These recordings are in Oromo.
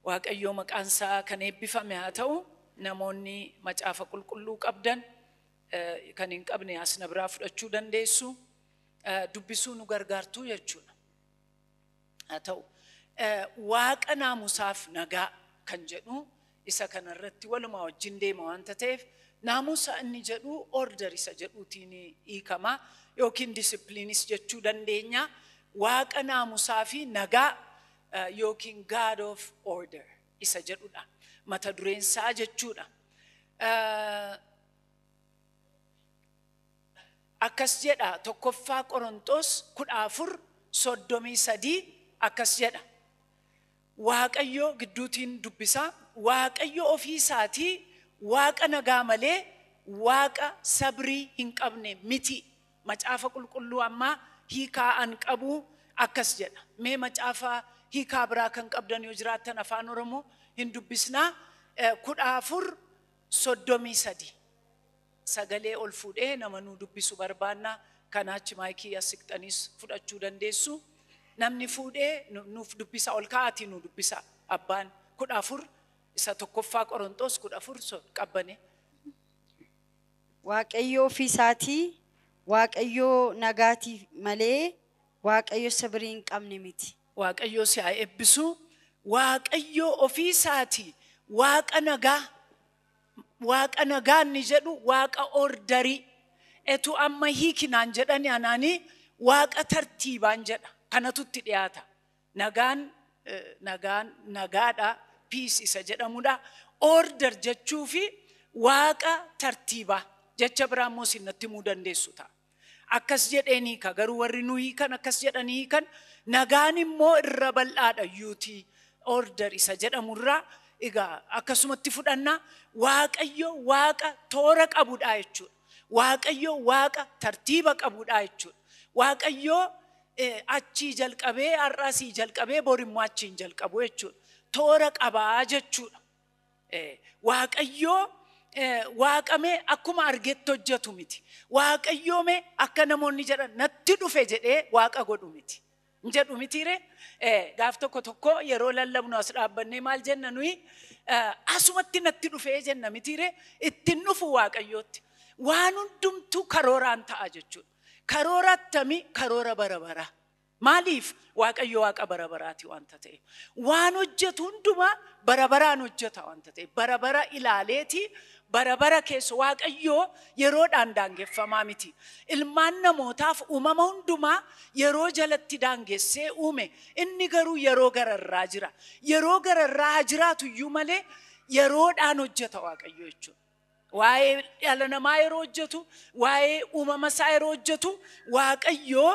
Waaqayyoo maqaan isaa kan eebbifame haa ta'u namoonni macaafa qulqulluu qabdan eh, kan hin qabne asna biraa fudhachuu dandeessu Eh, dubbisuu nu gargaartuu jechuudha. haa ta'u. Waaqa naamusaaf nagaa kan jedhu isa kana irratti walumaa wajjin deema wanta ta'eef naamusa inni jedhu order isa jedhuutiin hiikama yookiin disciplinis jechuu dandeenya. Waaqa naamusaa fi nagaa yookiin God of order isa jedhudha. Mata dureen isaa jechuudha. akkas jedha tokkoffaa Qoronxoos 14 33 akkas jedha Waaqayyo gidduutiin dubbisaa Waaqayyo ofii isaatii Waaqa nagaa malee Waaqa sabrii hin qabne miti macaafa qulqulluu ammaa hiikaa an qabu akkas jedha mee macaafa hiikaa biraa kan qabdan yoo jiraattan afaan oromoo hin dubbisnaa kudha afur soddomii sadii Sagalee ol fuudhee nama nuu dubbisu barbaanna. Kanaa achi maayikii as siqxaniis fudhachuu dandeessu. Namni fuudhee nuuf dubbisaa ol ka'aatii nuu dubbisaa. Abbaan 14 isa tokkoffaa Qoronxoos 14 so qabbane. Waaqayyoo ofii isaati Waaqayyoo nagaati malee Waaqayyo sibirii hin qabne miti. Waaqayyoo si haa ebbisuu. Waaqayyoo ofii isaati Waaqa nagaa. Waaqa nagaa inni jedhu waaqa ordarii. Etu amma hiiki naan jedhani anaani waaqa tartiibaan jedha. Kanatu itti dhiyaata. Nagaan eh, nagaan nagaadha piis isa jedhamudha. Order jechuu fi waaqa tartiibaa jecha biraa immoo isin natti himuu dandeessu ta'a. Akkas jedheen hiika garuu warri nu hiikan akkas jedhanii hiikan nagaan immoo irra bal'aadha yuuti order isa jedhamu irraa egaa akkasumatti fudhanna waaqayyo waaqa toora qabudha jechuudha. Waaqayyo waaqa tartiiba qabudha jechuudha. Waaqayyo eh, achii jalqabee har'aa sii jalqabee bor immoo achiin jalqabu jechuudha. Toora qabaa jechuudha. Eh, Waaqayyoo eh, waaqamee akkuma argetti hojjetu miti. Waaqayyoo mee akka namoonni jedhan natti dhufe jedhee waaqa godhu miti. Hin jedhu mitiire eh, gaaf tokko tokko yeroo lallabnu as dhaabbannee maal jenna nuyi eh, asumatti natti dhufee jenna mitiire ittiin dhufu waaqayyootti. Waan hundumtuu karooraan ta'a jechuudha. Karoora attamii karoora bara baraa. Maaliif? Waaqayyo Waaqa bara baraati wanta ta'eef. Waan hojjetu hundumaa bara baraan hojjeta wanta ta'eef. Bara bara ilaaleeti bara bara keessa Waaqayyoo yeroodhaan daangeffamaa miti. Ilmaan namootaaf uumama hundumaa yeroo jalatti daangessee uume. Inni garuu yeroo gararraa jira. Yeroo gararraa haa jiraatu iyyuu malee yeroodhaan hojjeta Waaqayyo jechuudha. Waa'ee dhala namaa yeroo hojjetu, waa'ee uumama isaa yeroo hojjetu, Waaqayyoo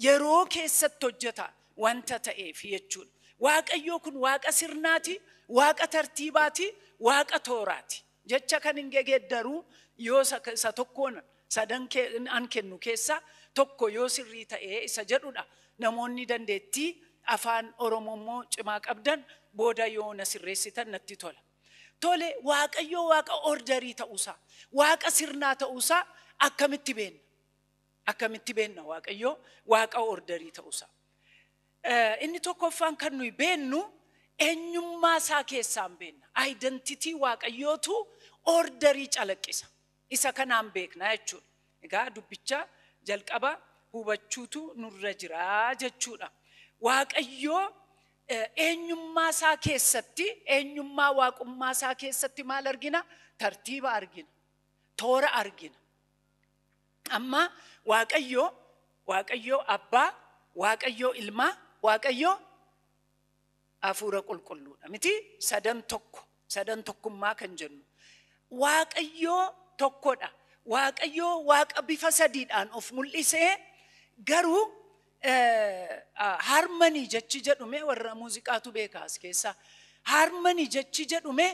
yeroo keessatti hojjeta wanta ta'eef jechuudha. Waaqayyoo kun waaqa sirnaati, waaqa tartiibaati, waaqa tooraati. Jecha kan hin gegeeddaru yoo isa, isa tokkoon sadan kee, an kennu keessaa tokko yoo sirrii ta'ee isa jedhudha. Namoonni dandeettii afaan Oromoo immoo cimaa qabdan booda yoo na sirreessitan natti tola. Tole Waaqayyoo Waaqa ordarii ta'uusaa, Waaqa sirnaa ta'uusaa akkamitti beenna? Akkamitti beenna Waaqayyoo Waaqa ordarii ta'uusaa? Eh, Inni tokkoffaan kan nuyi beennu eenyummaa isaa keessaan beenna. Aayidentitii Waaqayyootu ordarii calaqqisa. Isa kanaan beekna jechuudha. Egaa dubbicha jalqaba hubachuutu nurra jira jechuudha. Waaqayyo eenyummaa isaa keessatti, eenyummaa waaqummaa isaa keessatti maal argina? Tartiiba argina. Toora argina. Amma Waaqayyo, Waaqayyo Abbaa, Waaqayyo Ilmaa, Waaqayyo Hafuura qulqulluudha miti sadan tokko sadan tokkummaa kan jennu waaqayyoo tokkodha waaqayyoo waaqa bifa sadiidhaan of mul'isee garuu harmanii jechi jedhume warra muuziqaatu beekaa as keessaa harmanii jechi jedhume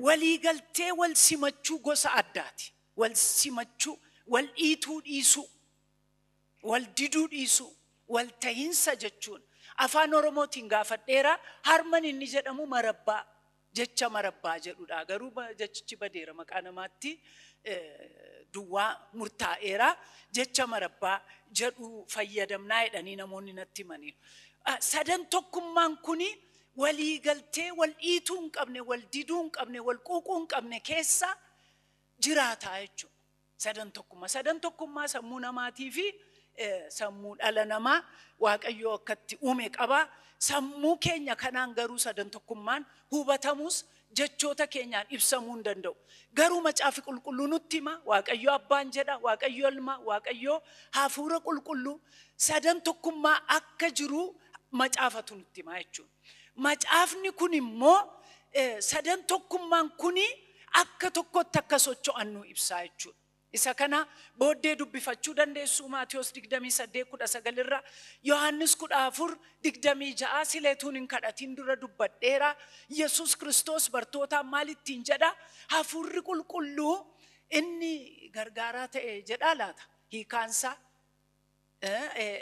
walii galtee wal simachuu gosa addaati wal simachuu wal dhiituu dhiisuu Wal diduu dhiisuu, wal tahinsa jechuun Afaan Oromootiin gaafadheera, harman inni jedhamu marabbaa, jecha marabbaa jedhudha. Garuu jechichi badeera maqaa namaatti duwwaa murtaa'eera. Jecha marabbaa jedhu fayyadamnaa jedhanii namoonni natti himaniiru. Sadan tokkummaan kuni walii galtee wal dhiituu hin qabne, wal diduu hin qabne, wal quuquu hin qabne keessa jiraataa jechuudha. Sadan tokkummaa. Sadan tokkummaa sammuu namaatii fi sammuu dhala namaa Waaqayyoo akkatti uume qaba. Sammuu keenya kanaan garuu sadan tokkummaan hubatamus jechoota keenyaan ibsamuu hin danda'u. Garuu macaafi qulqulluu nutti hima Waaqayyoo abbaan jedha, Waaqayyoo ilma, Waaqayyoo hafuura qulqulluu sadan tokkummaa akka jiru macaafatu nutti hima jechuudha. Macaafni kun immoo eh, sadan tokkummaan kuni akka tokkotti akka socho'an nu ibsaa jechuudha. Isa kana booddee dubbifachuu dandeessu Maatiyos 28:19 irra Yohaannis 14:26 sileetuun hin kadhatiin dura dubbadheera. Yesuus Kiristoos bartootaan maal ittiin jedha? Hafuurri qulqulluu inni gargaaraa ta'e jedhaa laata? Hiikaansaa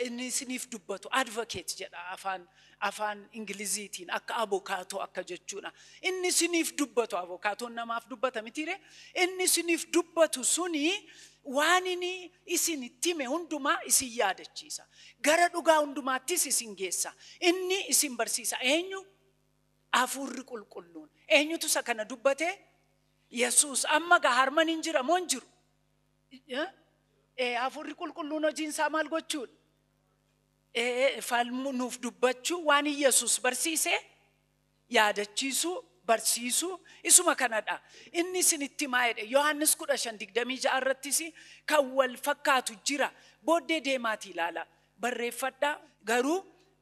inni isiniif dubbatu advocate jedha afaan afaan ingiliziitiin akka abokaatoo akka jechuudha. Inni isiniif dubbatu abokaatoon namaaf dubbata mitiire inni isiniif dubbatu suni waan inni isin itti hime hundumaa isin yaadachiisa. Gara dhugaa hundumaattis isin geessa. Inni isin barsiisa eenyu? Hafuurri qulqulluun. Eenyutu isa kana dubbate? Yesuus amma gaa harman hin jira moo hin jiru? Eh? Eh, hafuurri qulqulluun hojiin isaa maal gochuudha? Eh, falmu nuuf dubbachuu waan Yesus barsiise yaadachiisuu barsiisuu isuma kanadha. Inni isinitti himaa jedhe Yohaannis 15:26 irrattis kan wal fakkaatu jira. Booddee deemaatii ilaala. barreeffadhaa garuu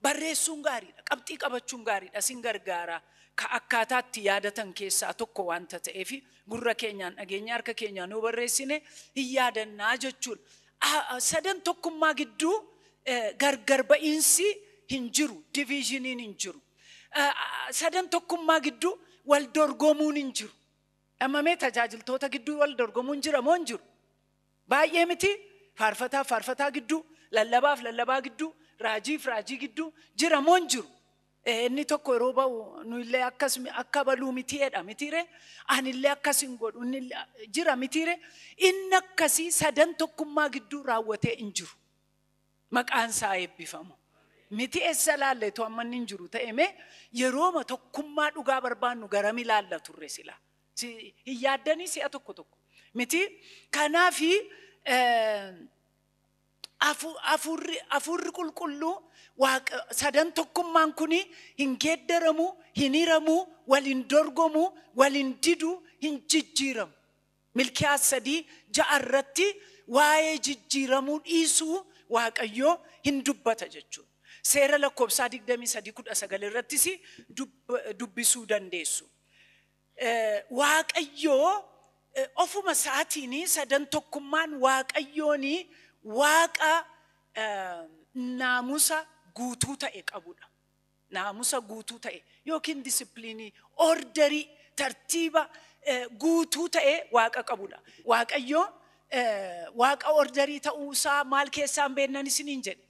barreessuun gaariidha qabxii qabachuun gaariidha sin gargaara ka akkaataatti yaadatan keessaa tokko wanta ta'eef gurra keenyaan dhageenya harka keenyaan yoo barreessine hin yaadannaa jechuun sadan tokkummaa gidduu gargar ba'iinsi hin jiru diviizhiniin hin jiru sadan tokkummaa gidduu wal dorgomuun hin jiru dhamamee tajaajiltoota gidduu wal dorgomuun jira moo hin jiru Baay'ee mitii? Faarfataaf faarfataa gidduu, lallabaaf lallabaa gidduu, raajiif raajii gidduu jira moo hin jiru? Eh, Inni tokko yeroo ba'u nu illee akkas mi- akka baluu mitii jedha mitiire? Ani illee akkas hin godhu inni illee- jira mitiire? Inni akkasii sadan tokkummaa gidduu raawwatee hin jiru. Maqaan isaa eebbifamu. Miti eessa laalle tu amma inni hin jiru ta'e mee yerooma tokkummaa dhugaa barbaannu garam ilaalla turre silaa? Si hin yaaddanii si'a tokko tokko miti. Kanaaf hafuurri qulqulluu sadan tokkummaan kun hin geeddaramu, hin hiramu, wal hin dorgomu, wal hin didu, hin jijjiiramu. Milkiyaas sadii ja'a irratti waa'ee jijjiiramuu dhiisuu Waaqayyoo hin dubbata jechuudha. Seera lakkoofsaa 23:19 irrattis dubbisuu dandeessu. Waaqayyo ofuma isaatiin sadan tokkummaan Waaqayyoon waaqa naamusa guutuu ta'e qabudha. Naamusa guutuu ta'e yookiin disipiliinii, orderii, tartiiba eh, guutuu ta'e waaqa qabudha. Waaqayyo eh, waaqa orderii ta'uu isaa maal keessaan beeknan isiniin jedhe.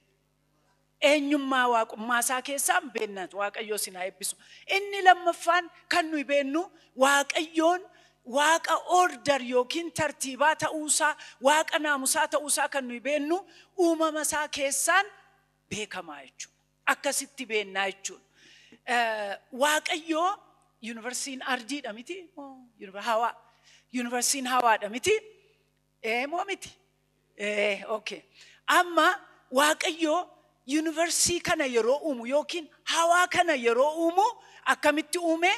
eenyummaa waaqummaa isaa keessaa hin beekna. Waaqayyoo isin haa eebbisu. Inni lammaffaan kan nuyi beennu Waaqayyoon waaqa order yookiin tartiibaa ta'uu isaa, waaqa naamusaa ta'uu isaa kan nuyi beennu uumama isaa keessaan beekamaa jechuudha. Akkasitti beennaa jechuudha. Eh, Waaqayyoo yuunivarsiitiin ardiidha miti? Moo yuunivar- hawaa. Yuunivarsiitiin hawaadha miti? Ee moo miti? Ee, okay. Amma Waaqayyo yuunivarsiitii kana yeroo uumu yookiin hawaa kana yeroo uumu akkamitti uume?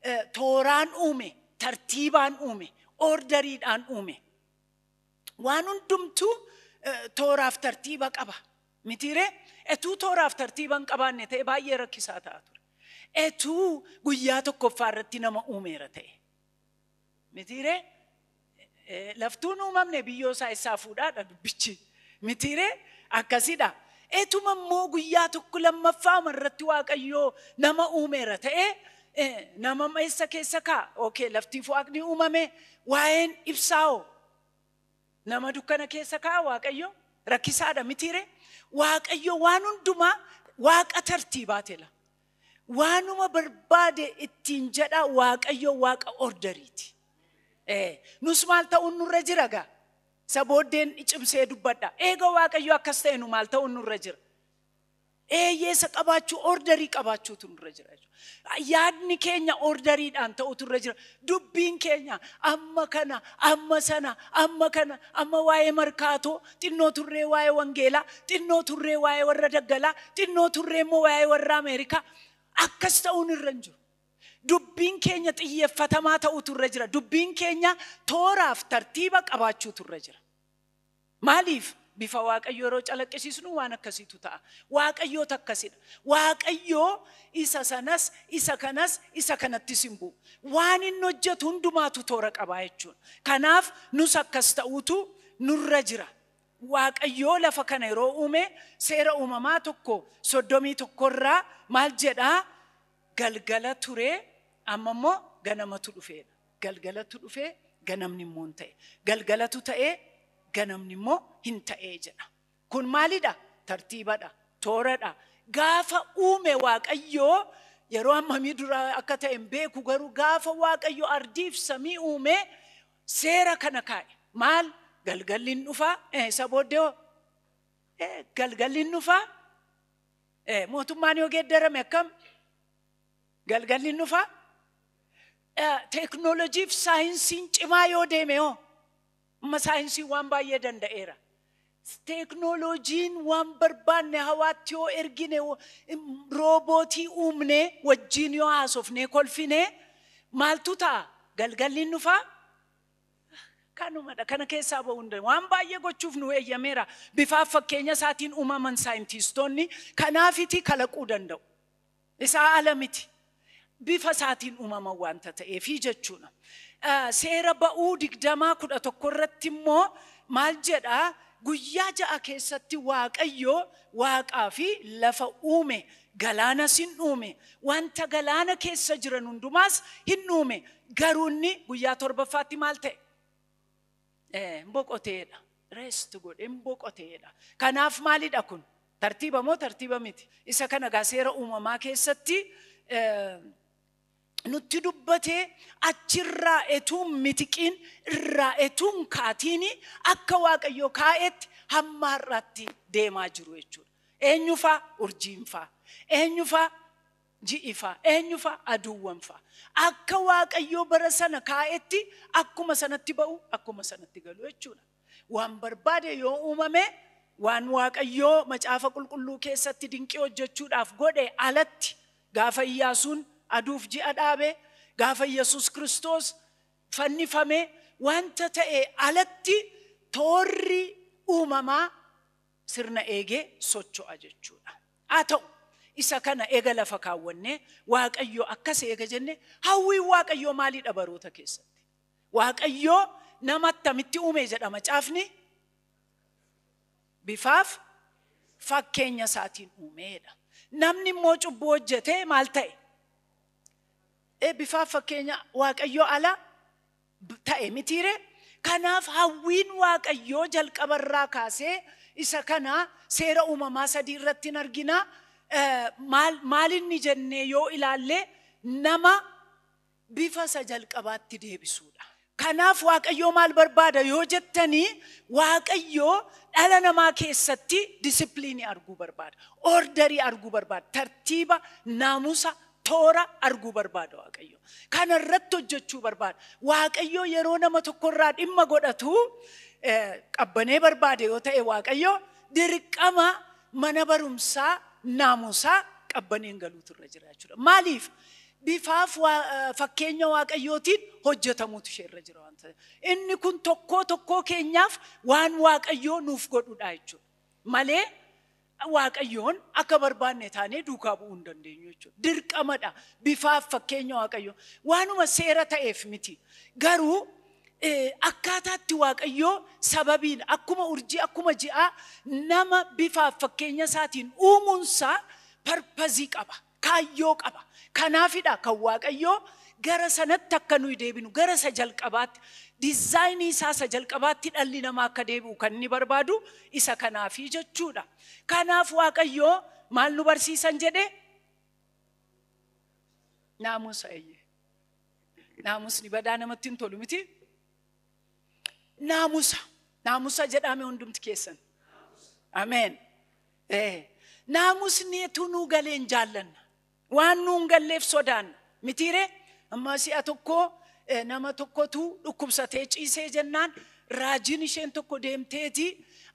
Eh, Tooraan uume, tartiibaan uume, oordariidhaan uume. Waan hundumtuu eh, tooraaf tartiiba qaba. Mitiiree? Etuu tooraaf tartiiba hin qabaanne ta'e baay'ee rakkisaa ta'a ture. Etuu guyyaa tokkoffaa irratti nama uumeera ta'e. Mitiiree? Eh, Laftuun uumamne biyyoo isaa eessaa fuudhaadha dubbichi. Mitiiree? Akkasidha. Etuma immoo guyyaa tokko lammaffaa irratti Waaqayyoo nama uumeera ta'ee eh, nama eessa keessa kaa? Okay, laftiif waaqni uumame waa'een ibsaa'oo? nama dukkana keessa kaa'a waaqayyo rakkisaadha mitiire waaqayyo waan hundumaa waaqa tartiibaa tela Waanuma barbaade ittiin jedha Waaqayyo Waaqa orderiiti. Ee, Nus maal ta'uun nurra jira gaa? Isa booddeen cimsee dubbadha. Eega Waaqayyo akkas ta'e nu maal ta'uun nurra jira? Eeyyee isa qabaachuu orderii qabaachuutu nurra jira jechuudha. Yaadni keenya orderiidhaan ta'utu irra jira. Dubbiin keenya amma kana, amma sana, amma kana, amma waa'ee markaatoo, xinnoo turree waa'ee wangeelaa, xinnoo turree waa'ee warra daggalaa, xinnoo turree immoo waa'ee warra Ameerikaa. Akkas ta'uun irra hin jiru. Dubbiin keenya xiyyeeffatamaa ta'uutu irra jira. Dubbiin keenya tooraaf tartiiba qabaachuutu irra jira. Maaliif? Bifa Waaqayyoo yeroo calaqqisiisnu waan akkasiitu ta'a. Waaqayyoota akkasidha. Waaqayyoo isa sanas, isa kanas, isa kanattis hin bu'u. Waan inni hojjetu hundumaatu toora qabaa jechuudha. Kanaaf nus akkas ta'uutu nurra jira. Waaqayyoo lafa kana yeroo uume seera uumamaa tokko soddomii tokko irraa maal jedhaa galgala turee amma immoo ganamatu dhufeedha. Galgalatu dhufee ganamni immoo hin ta'e. Galgalatu ta'ee ganamni immoo hin ta'ee jedha. Kun maalidha? Tartiibadha. Tooradha. Gaafa uume Waaqayyoo yeroo hammamii dura akka ta'e hin beeku garuu gaafa Waaqayyo ardiif samii uume seera kana kaa'e. Maal? Galgalli hin dhufaa? Eh, isa booddee hoo? Eh, galgalli hin dhufaa? Eh, mootummaan yoo geeddarame akkam? Galgalli hin dhufaa? Eh, teeknooloojiif saayinsiin cimaa yoo deeme hoo? Amma saayinsiin waan baay'ee danda'eera. Teeknooloojiin waan barbaanne hawaatti yoo ergine, roobootii uumne, wajjin yoo haasofnee kolfine maaltu ta'a? Galgalli hin dhufaa? Kanumadha. Kana keessaa ba'uu hin dandeenyu. Waan baay'ee gochuuf nu eeyyameera. Bifaaf fakkeenya isaatiin uumaman saayintiistoonni kanaafiti kalaquu danda'u. isaa ala miti. Bifa isaatiin uumama wanta ta'eefi jechuudha. Seera ba'uu digdamaa kudha tokko irratti immoo maal jedha? Guyyaa ja'a keessatti Waaqayyo waaqaa fi lafa uume, galaanas hin uume, wanta galaana keessa jiran hundumaas hin uume. Garuu inni guyyaa torbaffaatti maal ta'e? Eh, boqoteedha. Rest godhe hin boqoteedha. Kanaaf maalidha kun? Tartiiba moo tartiiba miti? Isa kana gaa seera uumamaa keessatti eh, nutti dubbatee achirraa etuun mitiqiin irraa etuun kaatiini akka waaqayyoo kaa'etti hamma har'aatti deemaa jiru jechuudha. Eenyufaa urjiinfaa eenyufaa ji'i fa'a, eenyu fa'a? Aduuwwan fa'a. Akka Waaqayyoo bara sana kaa'etti akkuma sanatti ba'u, akkuma sanatti galu jechuudha. Waan barbaade yoo uumame, waan Waaqayyoo macaafa qulqulluu keessatti dinqii hojjechuudhaaf godhe alatti, gaafa Iyyaasuun aduuf ji'a dhaabe, gaafa Yesus Kiristoos fannifame, wanta ta'e alatti toorri uumamaa sirna eegee socho'a jechuudha. Haa ta'u, isa kana eega lafa kaawwannee Waaqayyo akkas eega jenne hawwiin Waaqayyoo maalidha baroota keessatti? Waaqayyo nama attamitti uume jedha macaafni? Bifaaf fakkeenya isaatiin uumeedha. Namni immoo cubbuu hojjetee maal ta'e? Ee bifaaf fakkeenya Waaqayyoo ala ta'e mitiiree? Kanaaf hawwiin Waaqayyoo jalqaba irraa kaasee isa kana seera uumamaa sadii irratti hin argina. Maal, maal inni jennee yoo ilaalle nama bifa isa jalqabaatti deebisuudha. Kanaaf Waaqayyoo maal barbaada yoo jettanii Waaqayyoo dhala namaa keessatti disipiliinii arguu barbaada. Ordarii arguu barbaada. Tartiiba, naamusa, toora arguu barbaada Waaqayyo. Kana irratti hojjechuu barbaada. Waaqayyo yeroo nama tokko irraa dhimma godhatu eh, qabbanee barbaade yoo ta'e Waaqayyo dirqama mana barumsaa naamusaa qabbaneen galuutu irra jira jechuudha. Maaliif? Bifaaf waa- eh, fakkeenya Waaqayyootiin hojjetamuutu ishee irra jira waan ta'eef. Inni kun tokkoo tokkoo keenyaaf waan Waaqayyoo nuuf godhudha jechuudha. Malee Waaqayyoon akka barbaanne taanee duukaa bu'uu hin dandeenyu jechuudha. Dirqamadha. Bifaaf fakkeenya Waaqayyoo. Waanuma seera ta'eef miti. Garuu eh, akkaataatti Waaqayyoo sababiin akkuma urjii akkuma ji'aa nama bifaaf fakkeenya isaatiin uumuunsaa parpazii qaba. Kaayyoo qaba. Kanaafidha kan Waaqayyoo gara sanatti akka nuyi deebinu, gara isa jalqabaatti, dizaayinii isaa isa jalqabaatti dhalli namaa akka deebi'u kan inni barbaadu isa kanaafi jechuudha. Kanaaf Waaqayyoo maal nu barsiisan jedhe? Naamusa eeyyee. Naamusni badaa namatti hin tolu miti. Naamusa. Naamusa jedhaame hundumti keessan. Ameen. Ee, Naamusni etuu nuu galeen jaallanna. Waan nuun galleef sodaanna. Mitiiree amma si'a tokko eh, nama tokkotu dhukkubsatee ciisee jennaan raajiin isheen tokko deemteeti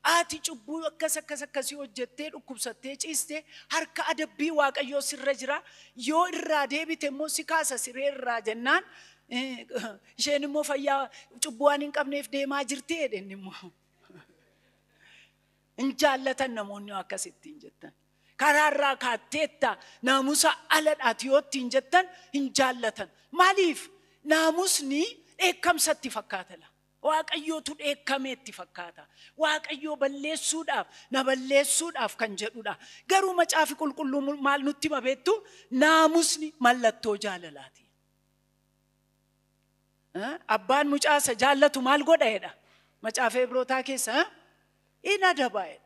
ati cubbuu akkas akkas akkasii hojjettee dhukkubsattee ciiste harka adabbii waaqayyoo sirra jira yoo irraa deebite immoo si kaasa siree irraa jennaan Isheen immoo fayyaa cubbuu waan hin qabneef deemaa jirti jedheen immoo. Hin jaallatan namoonni akkasittiin jettan. Karaarraa kaatteetta naamusa aladhaati yoo ittiin jettan hin jaallatan. Maaliif naamusni dheekkamsa itti fakkaata laa. Waaqayyootu dheekkamee itti fakkaata. Waaqayyoo balleessuudhaaf na balleessuudhaaf kan jedhudha. Garuu macaafi qulqulluu maal nutti hima beektu naamusni mallattoo jaalalaati. Abbaan mucaa isa jaallatu maal godha jedha? Macaafa Ibrootaa keessa in adaba jedha.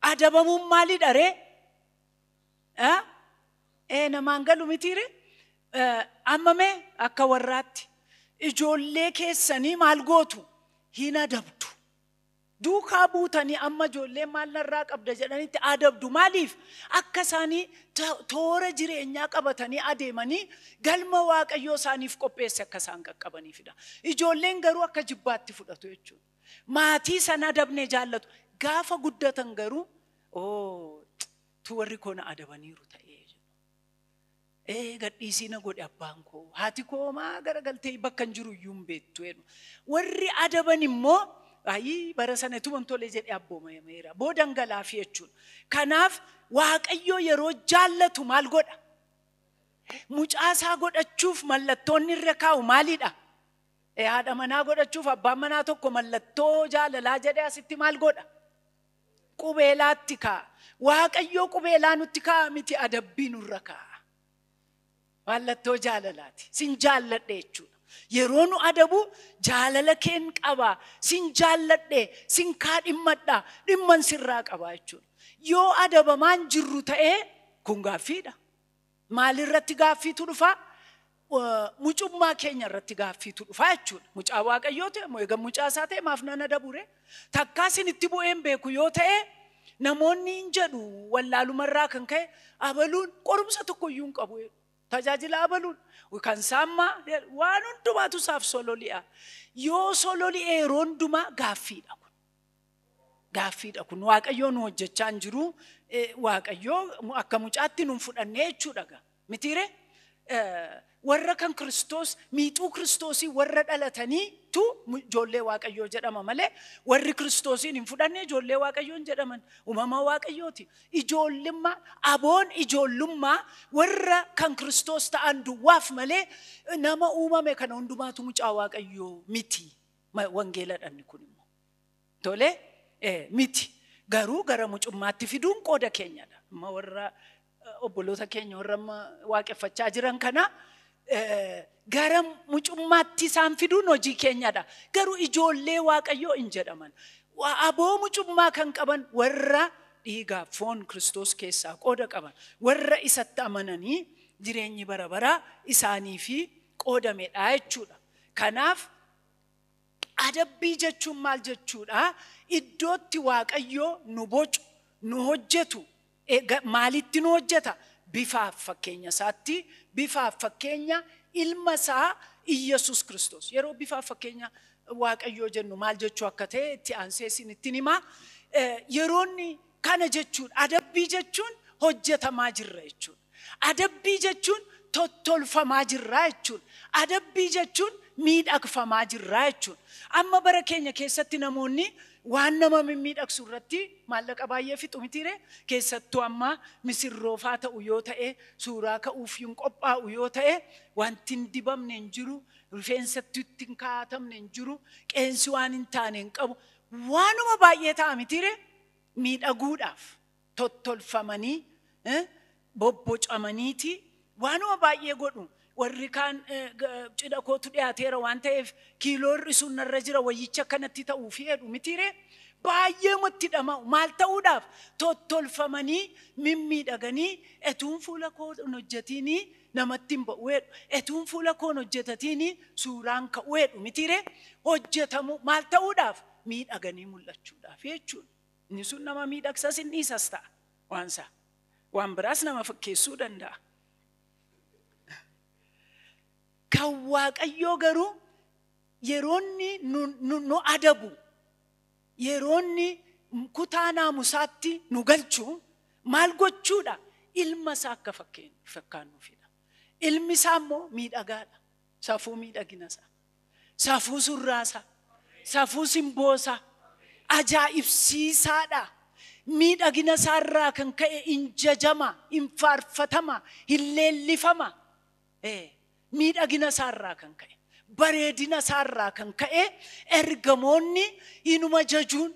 Adabamuun maalidha ree? Ee namaan galu mitii ree? Amma mee akka warraatti ijoollee keessanii maal gootu? Hin adabdu. Duukaa buutanii amma ijoolleen maal narraa qabda jedhanitti adabdu. Maaliif? Akka isaanii to- toora jireenyaa qabatanii adeemanii galma Waaqayyoo isaaniif qopheesse akka isaan qaqqabaniifidha. Ijoolleen garuu akka jibbaatti fudhatu jechuudha. Maatii san adabne jaallatu. Gaafa guddatan garuu oo tu warri koo na adabaniiru ta'ee jedhu. Ee gadhiisii na godhe abbaan koo haati koo homaa garagaltee bakkan jiru iyyuu hin beektu jedhu. Warri adaban immoo ayii bara sana ituman tole jedhee abboomameera. Boodan galaafi jechuudha. Kanaaf Waaqayyoo yeroo jaallatu maal godha? Mucaa isaa godhachuuf mallattoonni irra kaa'u maalidha? Ee, Haadha manaa godhachuuf abbaan manaa tokko mallattoo jaalalaa jedhee asitti maal godha? qubeelaatti kaa'a. Waaqayyoo qubeelaa nutti kaa'a miti adabbii nurra kaa'a. Mallattoo jaalalaati. Sin jaalladhe jechuudha. Yeroo nu adabu jaalala keen qaba. Sin jaalladhe, sin kaadhimmadha, dhimman sirraa qaba jechuudha. Yoo adabamaan jirru ta'ee kun gaaffiidha. Maalirratti gaaffiitu dhufa? Mucummaa keenya irratti gaaffiitu dhufa jechuudha. Mucaa Waaqayyoo ta'e moo eegan mucaa isaa ta'e maaf nan adabure? Takkaa sinitti bu'ee hin beeku yoo ta'e namoonni hin jedhu wallaalumarraa kan ka'e abaluun qorumsa tokkoyyuu hin qabu. Tajaajila abaluun kan saammaa waan hundumaatu isaaf sololi'a. Yoo sololi'e yeroo hundumaa gaaffiidha kun. Gaaffiidha kun waaqayyoo nu hojjechaa hin jiru waaqayyoo akka mucaatti nun fudhannee jechuudha gaa mitiire warra kan kiristoos miixuu kiristoosii warra dhalatanii tu ijoollee waaqayyoo jedhama malee warri kiristoosiin hin fudhanne ijoollee waaqayyoo hin jedhaman uumama waaqayyooti ijoollummaa aboon ijoollummaa warra kan kiristoos ta'an duwwaaf malee nama uumame kana hundumaatu mucaa waaqayyoo miti wangeeladhanni kun immoo Tole miti garuu gara mucummaatti fiduun qooda keenyadha. Amma warra obboloota keenya warra amma waaqeffachaa jiran kana gara mucummaatti isaan fiduun hojii keenyadha. Garuu ijoollee waaqayyoo in jedhaman. Aboo mucummaa kan qaban warra dhiigaa foon Kiristoos keessaa qooda qaban. Warra isatti amananii jireenyi bara baraa isaaniif qoodamedha jechuudha. Kanaaf Adabbii jechuun maal jechuudha? Iddootti Waaqayyoo nu bocu, nu hojjetu, maalitti nu hojjeta? Bifaaf fakkeenya isaatti, bifaaf fakkeenya ilma isaa Iyyasuus Kiristoos. Yeroo bifaaf fakkeenya Waaqayyoo jennu maal jechuu akka ta'e itti aansee isinittin hima. Yeroonni kana jechuudha. Adabbii jechuun hojjetamaa jirra jechuudha. Adabbii jechuun tottolfamaa jirraa jechuun. Adabbii jechuun miidhagfamaa jirraa jechuun. Amma bara keenya keessatti namoonni waan nama mimmiidhagsu irratti maallaqa baay'ee fixu mitiiree? Keessattuu amma misirroofaa ta'u yoo ta'e, suuraa ka'uuf hin qophaa'u yoo ta'e, wanti hin dibamne hin jiru, rifeensatti itti hin kaa'atamne hin jiru, qeensi waan hin taane hin qabu. Waanuma baay'ee ta'a mitiiree? Miidhaguudhaaf. tottolfamanii, bobbocamaniiti waanuma baay'ee godhu. Warri kaan cidha kootu dhiyaateera waan ta'eef kiiloo hir'isuun narra jira wayyicha akkanatti ta'uufi jedhu mitiiree? Baay'eema itti dhama'u. Maal ta'uudhaaf? Tottolfamanii, mimmiidhaganii, etuun fuula koo hin hojjetiinii namatti hin ba'u jedhu. Etuun fuula koo hin hojjetatiinii suuraa hin ka'u jedhu mitiiree? Hojjetamuu, maal ta'uudhaaf? Miidhaganii mul'achuudhaaf jechuudha. Inni sun nama miidhagsas hin dhiisas ta'a waan isaa. Waan biraas nama fakkeessuu danda'a. Kan Waaqayyoo garuu yeroonni nu, nu, nu adabu, yeroonni kutaa naamusaatti nu galchu maal gochuudha? Ilma isaa akka fakkeen- fakkaannuufidha. Ilmi isaa immoo miidhagaadha. Safuu miidhagina isaa. Safuu surraasaa, safuu simboosaa ajaa'ibsiisaadha. Miidhagina isaarraa kan ka'e hin jajama, hin faarfatama, hin leellifama. Ee, miidhagina isaarraa kan ka'e, bareedina isaarraa kan ka'e ergamoonni inuma jajuun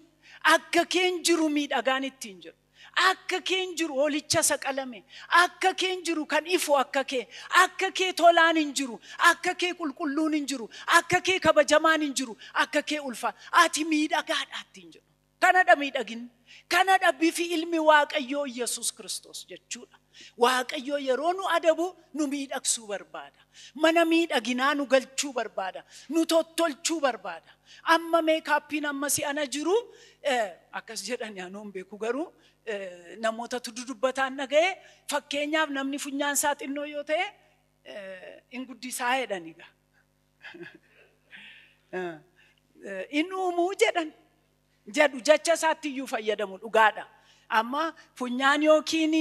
akka keen jiru miidhagaan ittiin jedhu. Akka keen jiru hoolicha isa qalame, akka keen jiru kan ifu akka kee, akka kee tolaan hin jiru, akka kee qulqulluun hin jiru, akka kee kabajamaan hin jiru, akka kee ulfa. Ati miidhagaadha ittiin jedhu. Kanadha miidhaginni. Kanadha bifi ilmi Waaqayyoo Yesuus Kiristoos jechuudha. Waaqayyoo yeroo nu adabu nu miidhagsuu barbaada. Mana miidhaginaa nu galchuu barbaada. Nu tottolchuu barbaada. Amma meekaappiin amma si'ana jiru eh, akkas jedhani anoo hin beeku garuu eh, namootatu dudubbataan dhaga'e fakkeenyaaf namni funyaan isaa xinnoo yoo ta'e eh, hin guddisaa jedhani gaa. Eh, eh, hin uumuu jedhan. jedhu jecha isaatti iyyuu fayyadamu dhugaadha. Amma funyaan yookiin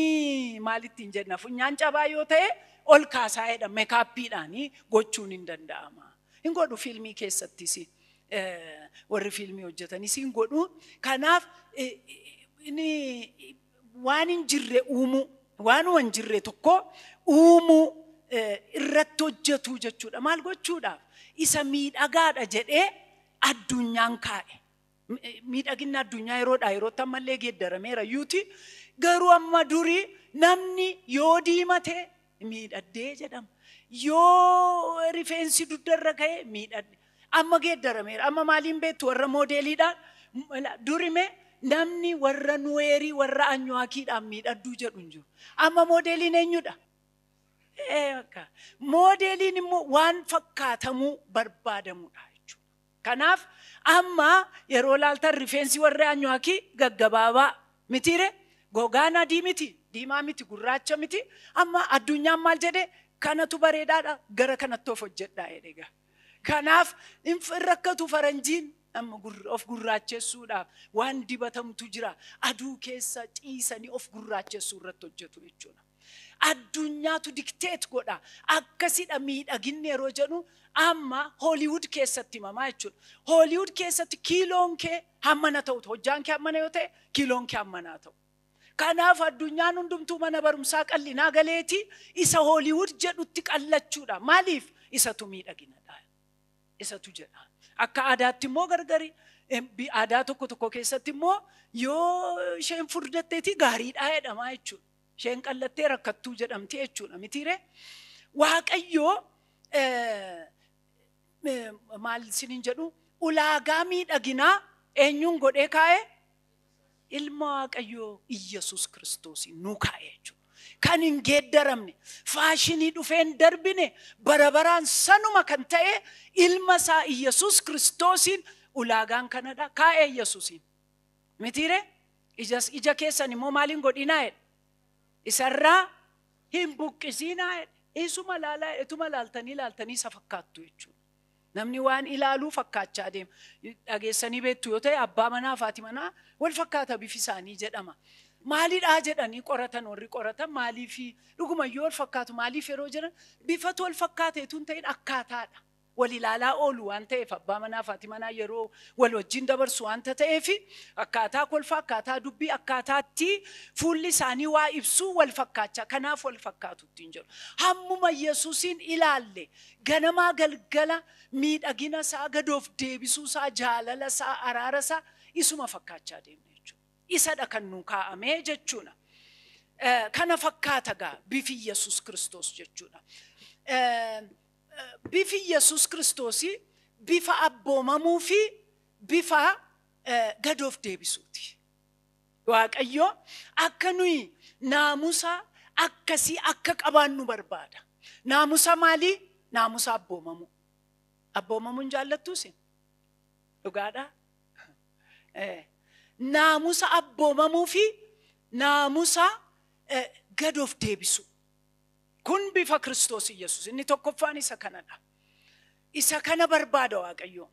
maal ittiin jenna funyaan cabaa yoo ta'e ol kaasaa jedha mekaappiidhaan gochuun hin danda'ama. Hin godhu fiilmii keessattis warri fiilmii hojjetanis hin godhu. Kanaaf waan hin jirre uumuu waanuma hin jirre tokko uumuu irratti hojjetuu jechuudha. Maal gochuudhaaf isa miidhagaadha jedhee addunyaan kaa'e. Miidhaginni addunyaa yeroodhaa yerootti ammallee geeddarameera yuuti garuu amma durii namni yoo diimate miidhaddee jedhama. Yoo rifeensi dugdarra ka'e miidhadde. Amma geeddarameera. Amma maaliin beektu warra moodeeliidhaan durime namni warra nuweerii warra anyuwaakiidhaan miidhadduu jedhu hin jiru. Amma moodeeliin eenyudha? Moodeeliin immoo waan fakkaatamuu barbaadamudha jechuudha. Kanaaf amma yeroo laaltan rifeensi warri Anyuwaakii gaggabaabaa mitiire gogaan adii miti diimaa miti gurraacha miti amma addunyaan maal jedhe kanatu bareedaadha gara kanatti of hojjedhaa jedhega. Kanaaf hin rakkatu faranjiin amma of gurraachessuudhaaf waan dibatamtu jira aduu keessa ciisanii of gurraachessuu irratti hojjetu jechuudha. Addunyaatu dictate godha. Akkasidha miidhaginni yeroo jedhu amma Hollywood keessatti himamaa jechuudha. Hollywood keessatti kiiloon kee hammana ta'utu hojjaan kee hammana yoo ta'e kiiloon kee hammanaa ta'u. Kanaaf addunyaan hundumtuu mana barumsaa qallinaa galeeti isa Hollywood jedhutti qallachuudha. Maaliif? Isatu miidhaginadha. Isatu jedha. Akka aadaatti immoo gargari. Aadaa tokko tokko keessatti immoo yoo isheen furdatteeti gaariidhaa jedhamaa jechuudha. Isheen qallattee rakkattuu jedhamti jechuudha mitiiree. Waaqayyoo maal isiniin jedhu ulaagaa miidhaginaa eenyuun godhee kaa'e? Ilma Waaqayyoo Iyyasuus Kiristoosiin nuu kaa'e jechuudha. Kan hin geeddaramne, faashinii dhufee hin darbine, bara baraan sanuma kan ta'e ilma isaa Iyyasuus Kiristoosiin ulaagaan kanadha. Kaa'e Iyyasuusiin. mitiire ijas ija keessan immoo maaliin godhinaa jedhe isarraa hin buqqisiinaa jedhe isuma laalaa jedhe ituma laaltanii laaltanii isa fakkaattu jechuudha namni waan ilaaluu fakkaachaa deema dhageessanii beektu yoo ta'e abbaa manaa faati manaa wal fakkaata bifi isaanii jedhama maalidhaa jedhanii qoratan warri qoratan maaliifi dhugumayyuu wal fakkaatu maaliif yeroo jedhan bifatu wal fakkaata etuun ta'in akkaataadha wal ilaalaa oolu waan ta'eef abbaa manaa fi haati manaa yeroo wal wajjin dabarsu waanta ta'eef akkaataa kolfaa akkaataa dubbii akkaataa itti fuulli isaanii waa ibsuu wal fakkaachaa kanaaf wal fakkaatu ittiin jedhu hammuma yesusiin ilaalle ganamaa galgala miidhagina isaa gad of deebisuu isaa jaalala isaa araara isaa isuma fakkaachaa deemna jechuudha isadha kan nuu kaa'amee jechuudha Eh, kana fakkaata gaa bifi yesus kiristoos jechuudha Eh, Bifi Yesuus Kiristoosii bifa abboomamuu fi bifa gad of deebisuu ti. Waaqayyo akka nuyi naamusa akkasii akka qabaannu barbaada. Naamusa maalii? Naamusa abboomamuu. Abboomamuu hin jaallattuu isin? Dhugaadhaa? Naamusa abboomamuu fi naamusa gad of deebisuu. Kun bifa Kiristoos Iyyasuus. Inni tokkoffaan isa kanadha. Isa kana barbaada Waaqayyo.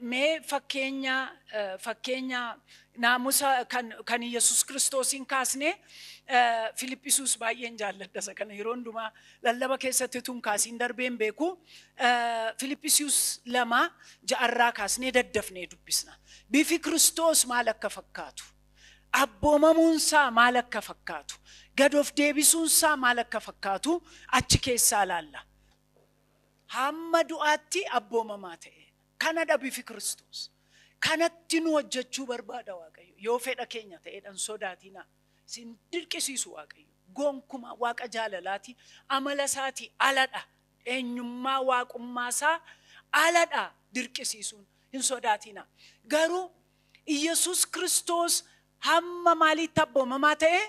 Mee fakkeenya fakkeenya naamusa kan kan Yesuus Kiristoosiin kaasnee Filiphisuus baay'een jaalladha isa kana yeroo hundumaa lallaba keessatti utuu hin kaasiin darbee hin beeku. Eh, Filiphisius lama ja'arraa kaasnee daddafnee dubbisna. Bifi Kiristoos maal akka fakkaatu? Abboomamuunsaa maal akka fakkaatu? Gad of deebisuunsaa maal akka fakkaatu achi keessaa ilaalla. Hamma du'aatti abboomamaa ta'e. Kanadha bifi Kiristoos. Kanatti nu hojjechuu barbaada Waaqayyo. Yoo fedha keenya ta'edha hin sodaatinaa. Sin dirqisiisu Waaqayyo. Gonkumaa Waaqa jaalalaati. Amala isaati aladha. Eenyummaa waaqummaa isaa aladha dirqisiisuun. Hin sodaatiina. Garuu Iyyasuus Kiristoos hamma maaliitti abboomamaa ta'e?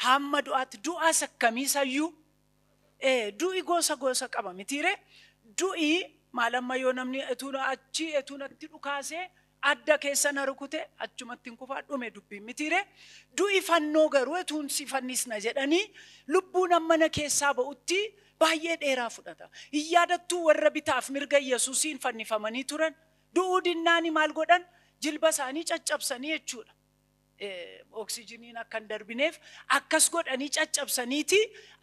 Hamma du'aatti. Du'as akkamii isayyuu? Ee, du'i gosa gosa qaba mitiiree? Du'i maal amma yoo namni etuu na achi etuu natti dhukaasee adda keessa na rukute achumattin kufaa dhume dubbiin mitiiree? Du'i fannoo garuu etuun si fannisna jedhanii lubbuun amma na keessaa ba'utti baay'ee dheeraa fudhata. Hin yaadattuu warra bitaaf mirga Yesusiin fannifamanii turan? Du'uu dinnaani maal godhan? Jilba isaanii caccabsanii jechuudha. Oksijiniin akka hin darbineef akkas godhanii caccabsaniiti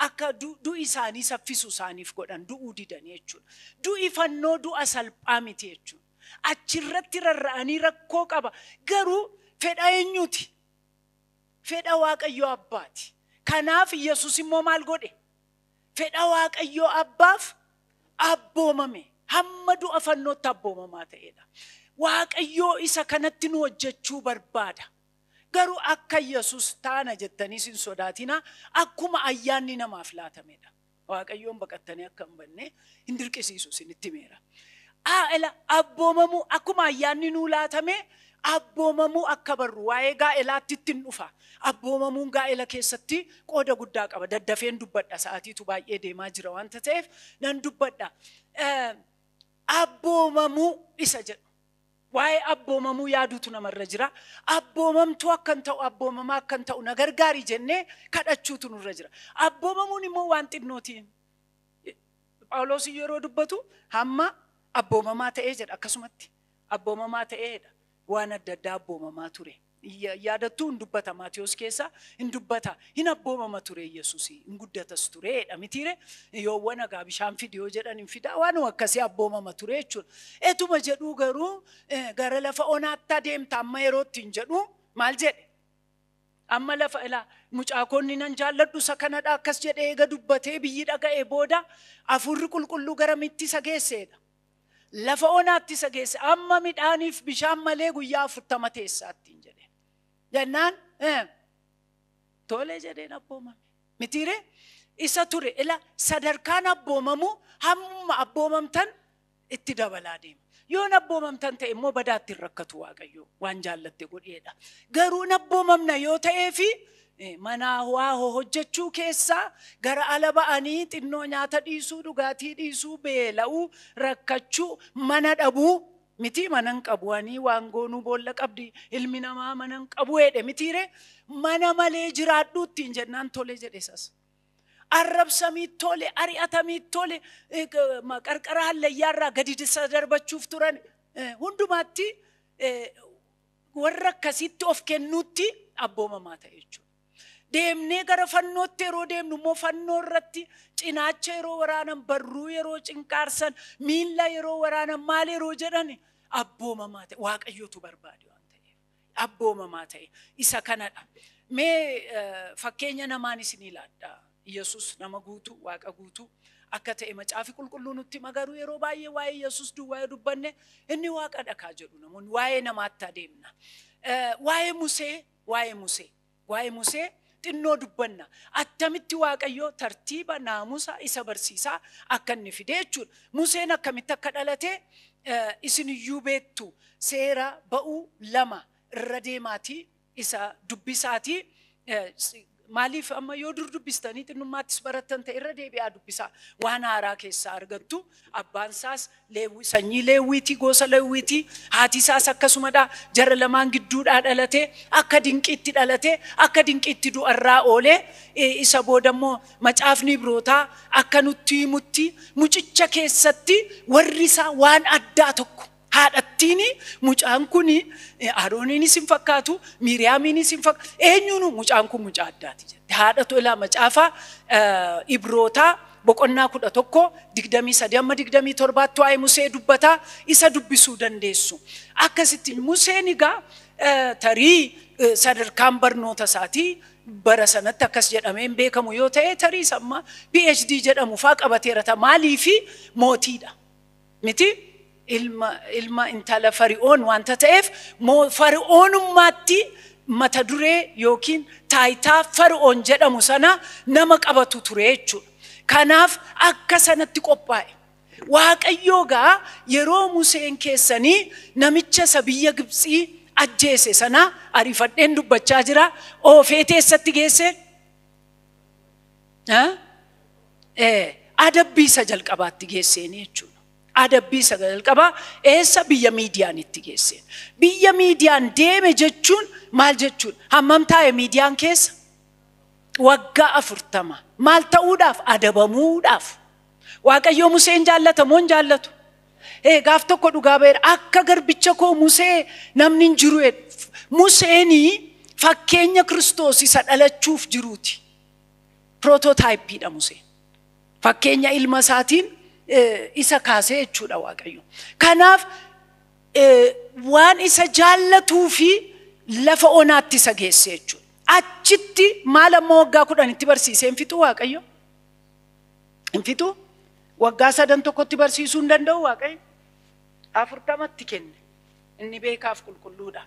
akka du'i isaanii saffisu isaaniif godhan du'uu didanii jechuudha. Du'i fannoo du'a salphaa miti jechuudha. Achirratti rarra'anii rakkoo qaba garuu fedha eenyuuti? Fedha Waaqayyoo Abbaati. Kanaaf Yesus immoo maal godhe? fedha Waaqayyoo abbaaf abboomame hamma du'a fannootti abboomamaa ta'edha. Waaqayyoo isa kanatti nu hojjechuu barbaada. Garuu akka Yesus taana jettaniis hin sodaatinaa akkuma ayyaanni namaaf laatamedha. Waaqayyoon baqattanii akka hin banne hin dirqisiisu isinitti himeera. A. Ela abboomamuu akkuma ayyaanni nuu laatamee abboomamuu akka barru waa'ee gaa'elaatti ittin dhufa. Abboomamuun gaa'ela keessatti qooda guddaa qaba. Daddafeen dubbadha sa'aatiitu baay'ee deemaa jira wanta ta'eef nan dubbadha. Abboomamuu isa jedhu. Waa'ee abboomamuu yaaduutu namarra jira. Abboomamtuu akkan ta'u, abboomamaa akkan ta'u na gargaari jennee kadhachuutu nurra jira. Abboomamuun immoo waan xinnooti. Phaawuloos yeroo dubbatu hamma abboomamaa ta'ee jedha akkasumatti abboomamaa ta'eedha waan adda addaa abboomamaa ture yaadattuu hin dubbata maatiyoos keessaa hin dubbata hin abboomama ture yesus hin guddatas tureedha mitiire yoo wana gaa bishaan fidi yoo jedhan hin fidaa waan akkasii abboomama ture jechuudha etuma jedhuu garuu gara lafa onaatti adeemta amma yerootti hin jedhu maal jedhe Amma lafa ilaa. Mucaa koo inni nan jaalladhu isa kanadha akkas jedhee eega dubbatee biyyi dhaga'ee booda Hafuurri Qulqulluu garamitti isa geesseedha? Lafa onaatti isa geesse. Amma midhaaniif bishaan malee guyyaa afurtama teessaa ittiin jedheen. Jennaan eh, tole jedheen abboomame. Mitiiree? Isa ture ila sadarkaan abboomamuu hammuma abboomamtan itti dabalaa deema. Yoo hin abboomamtan ta'e immoo badaa itti hin rakkatu Waaqayyo waan jaallatte godheedha. Garuu hin abboomamna yoo ta'ee fi eh, manaa waa ho- hojjechuu keessaa gara ala ba'anii xinnoo nyaata dhiisuu, dhugaatii dhiisuu, beela'uu, rakkachuu, mana dhabuu mitii mana hin qabu anii waan goonuu boolla qabdi ilmi namaa mana hin qabu jedhe mitiire mana malee jiraadhuu ittiin jennaan tole jedhe sas. Arrabsamiit tole, ari'atamiit tole, eh, g- ma- qarqara hallayyaarraa gadi isa darbachuuf turan. Eh, Hundumaatti eh, warra akkasitti of kennuutti abboomamaa ta'e jechuudha. Deemnee gara fannootti yeroo deemnu immoo fannoo irratti cinaacha yeroo waraanan, barruu yeroo cinqaarsan, miilla yeroo waraanan maal yeroo jedhan abboomamaa ta'e waaqayyootu barbaade waan ta'eef. abboomamaa ta'e isa kanadha. Mee fakkeenya namaan isinii laadha. Yesus nama guutuu, Waaqa guutuu akka ta'e macaafi qulqulluu nutti hima garuu yeroo baay'ee waa'ee Yesus duwwaa yoo dubbanne inni Waaqadha kaa jedhu namoonni waa'ee namaatti adeemna. Waa'ee Musee, waa'ee Musee. Waa'ee Musee xinnoo dubbanna. Attamitti Waaqayyo tartiiba, naamusa isa barsiisaa akka inni fide jechuudha. Museen akkamitti akka dhalate isin iyyuu beektu. Seera ba'uu lama irra deemaatii isa dubbisaatii maaliif amma yoo dur dubbistanii xinnummaattis barattan ta'e irra deebi'aa dubbisaa waan haaraa keessaa argattu. Abbaan isaas Leewwii, sanyii Leewwiitii, gosa Leewwiitii, haati isaas akkasumadha, jara lamaan gidduudhaa dhalate, akka dinqiitti dhalate, akka dinqiitti du'arraa oole, isa booda immoo macaafni Ibrootaa akka nutti himutti mucicha keessatti warri isaa waan addaa tokko. Haadhattiin mucaan kun Aarooniinis hin fakkaatu, Miiriyaamiinis hin fakkaatu. Eenyuunu mucaan kun mucaa addaati jette. Haadhatu ilaa macaafa Ibrootaa boqonnaa kudha tokko digdamii sadii amma digdamii torbaatti waa'ee Musee dubbataa isa dubbisuu dandeessu. Akkasitti Museen egaa tarii sadarkaan barnoota isaatii bara sanatti akkas jedhamee hin beekamu yoo ta'e tarii samma PhD jedhamu faa qabateera ta'a maaliifi mootiidha. miti, ilma, ilma intala Fari'oon wanta ta'eef, moo, Fari'oonummaatti mata duree yookiin taayitaa Fari'oon jedhamu sana nama qabatu ture jechuudha. Kanaaf akka sanatti qophaa'e. Waaqayyoo gaa yeroo Museen keessanii namicha isa biyya Gibtsii ajjeese sana, ariifadheen dubbachaa jira, oofee teessatti geesse? adabbii isa jalqabaatti geesseen jechuudha. Adabbii isa jalqabaa eessa biyya miidiyaan itti geesseen. Biyya miidiyaan deeme jechuun maal jechuudha? Hammam taa'e miidiyaan keessa? Waggaa afurtama. Maal ta'uudhaaf? Adabamuudhaaf. Waaqayyoo Museen jaallata moo hin jaallatu? Ee gaaf tokko dhugaa ba'eera. Akka garbicha koo Musee namni hin jiru jedhe. Museenii fakkeenya Kiristoos isa dhalachuuf jiruuti. Pirootootaayipiidha Museen. Fakkeenya ilma isaatiin isa kaasee jechuudha Waaqayyo. Kanaaf waan isa jaallatuu fi lafa onaatti isa geesse jechuudha. Achitti maal amma waggaa kudhanitti barsiisee hin fixuu Waaqayyo? Hin fixuu? Waggaa sadan tokkotti barsiisuu hin danda'u Waaqayyo? Afurtamatti kenne. Inni beekaaf qulqulluudha.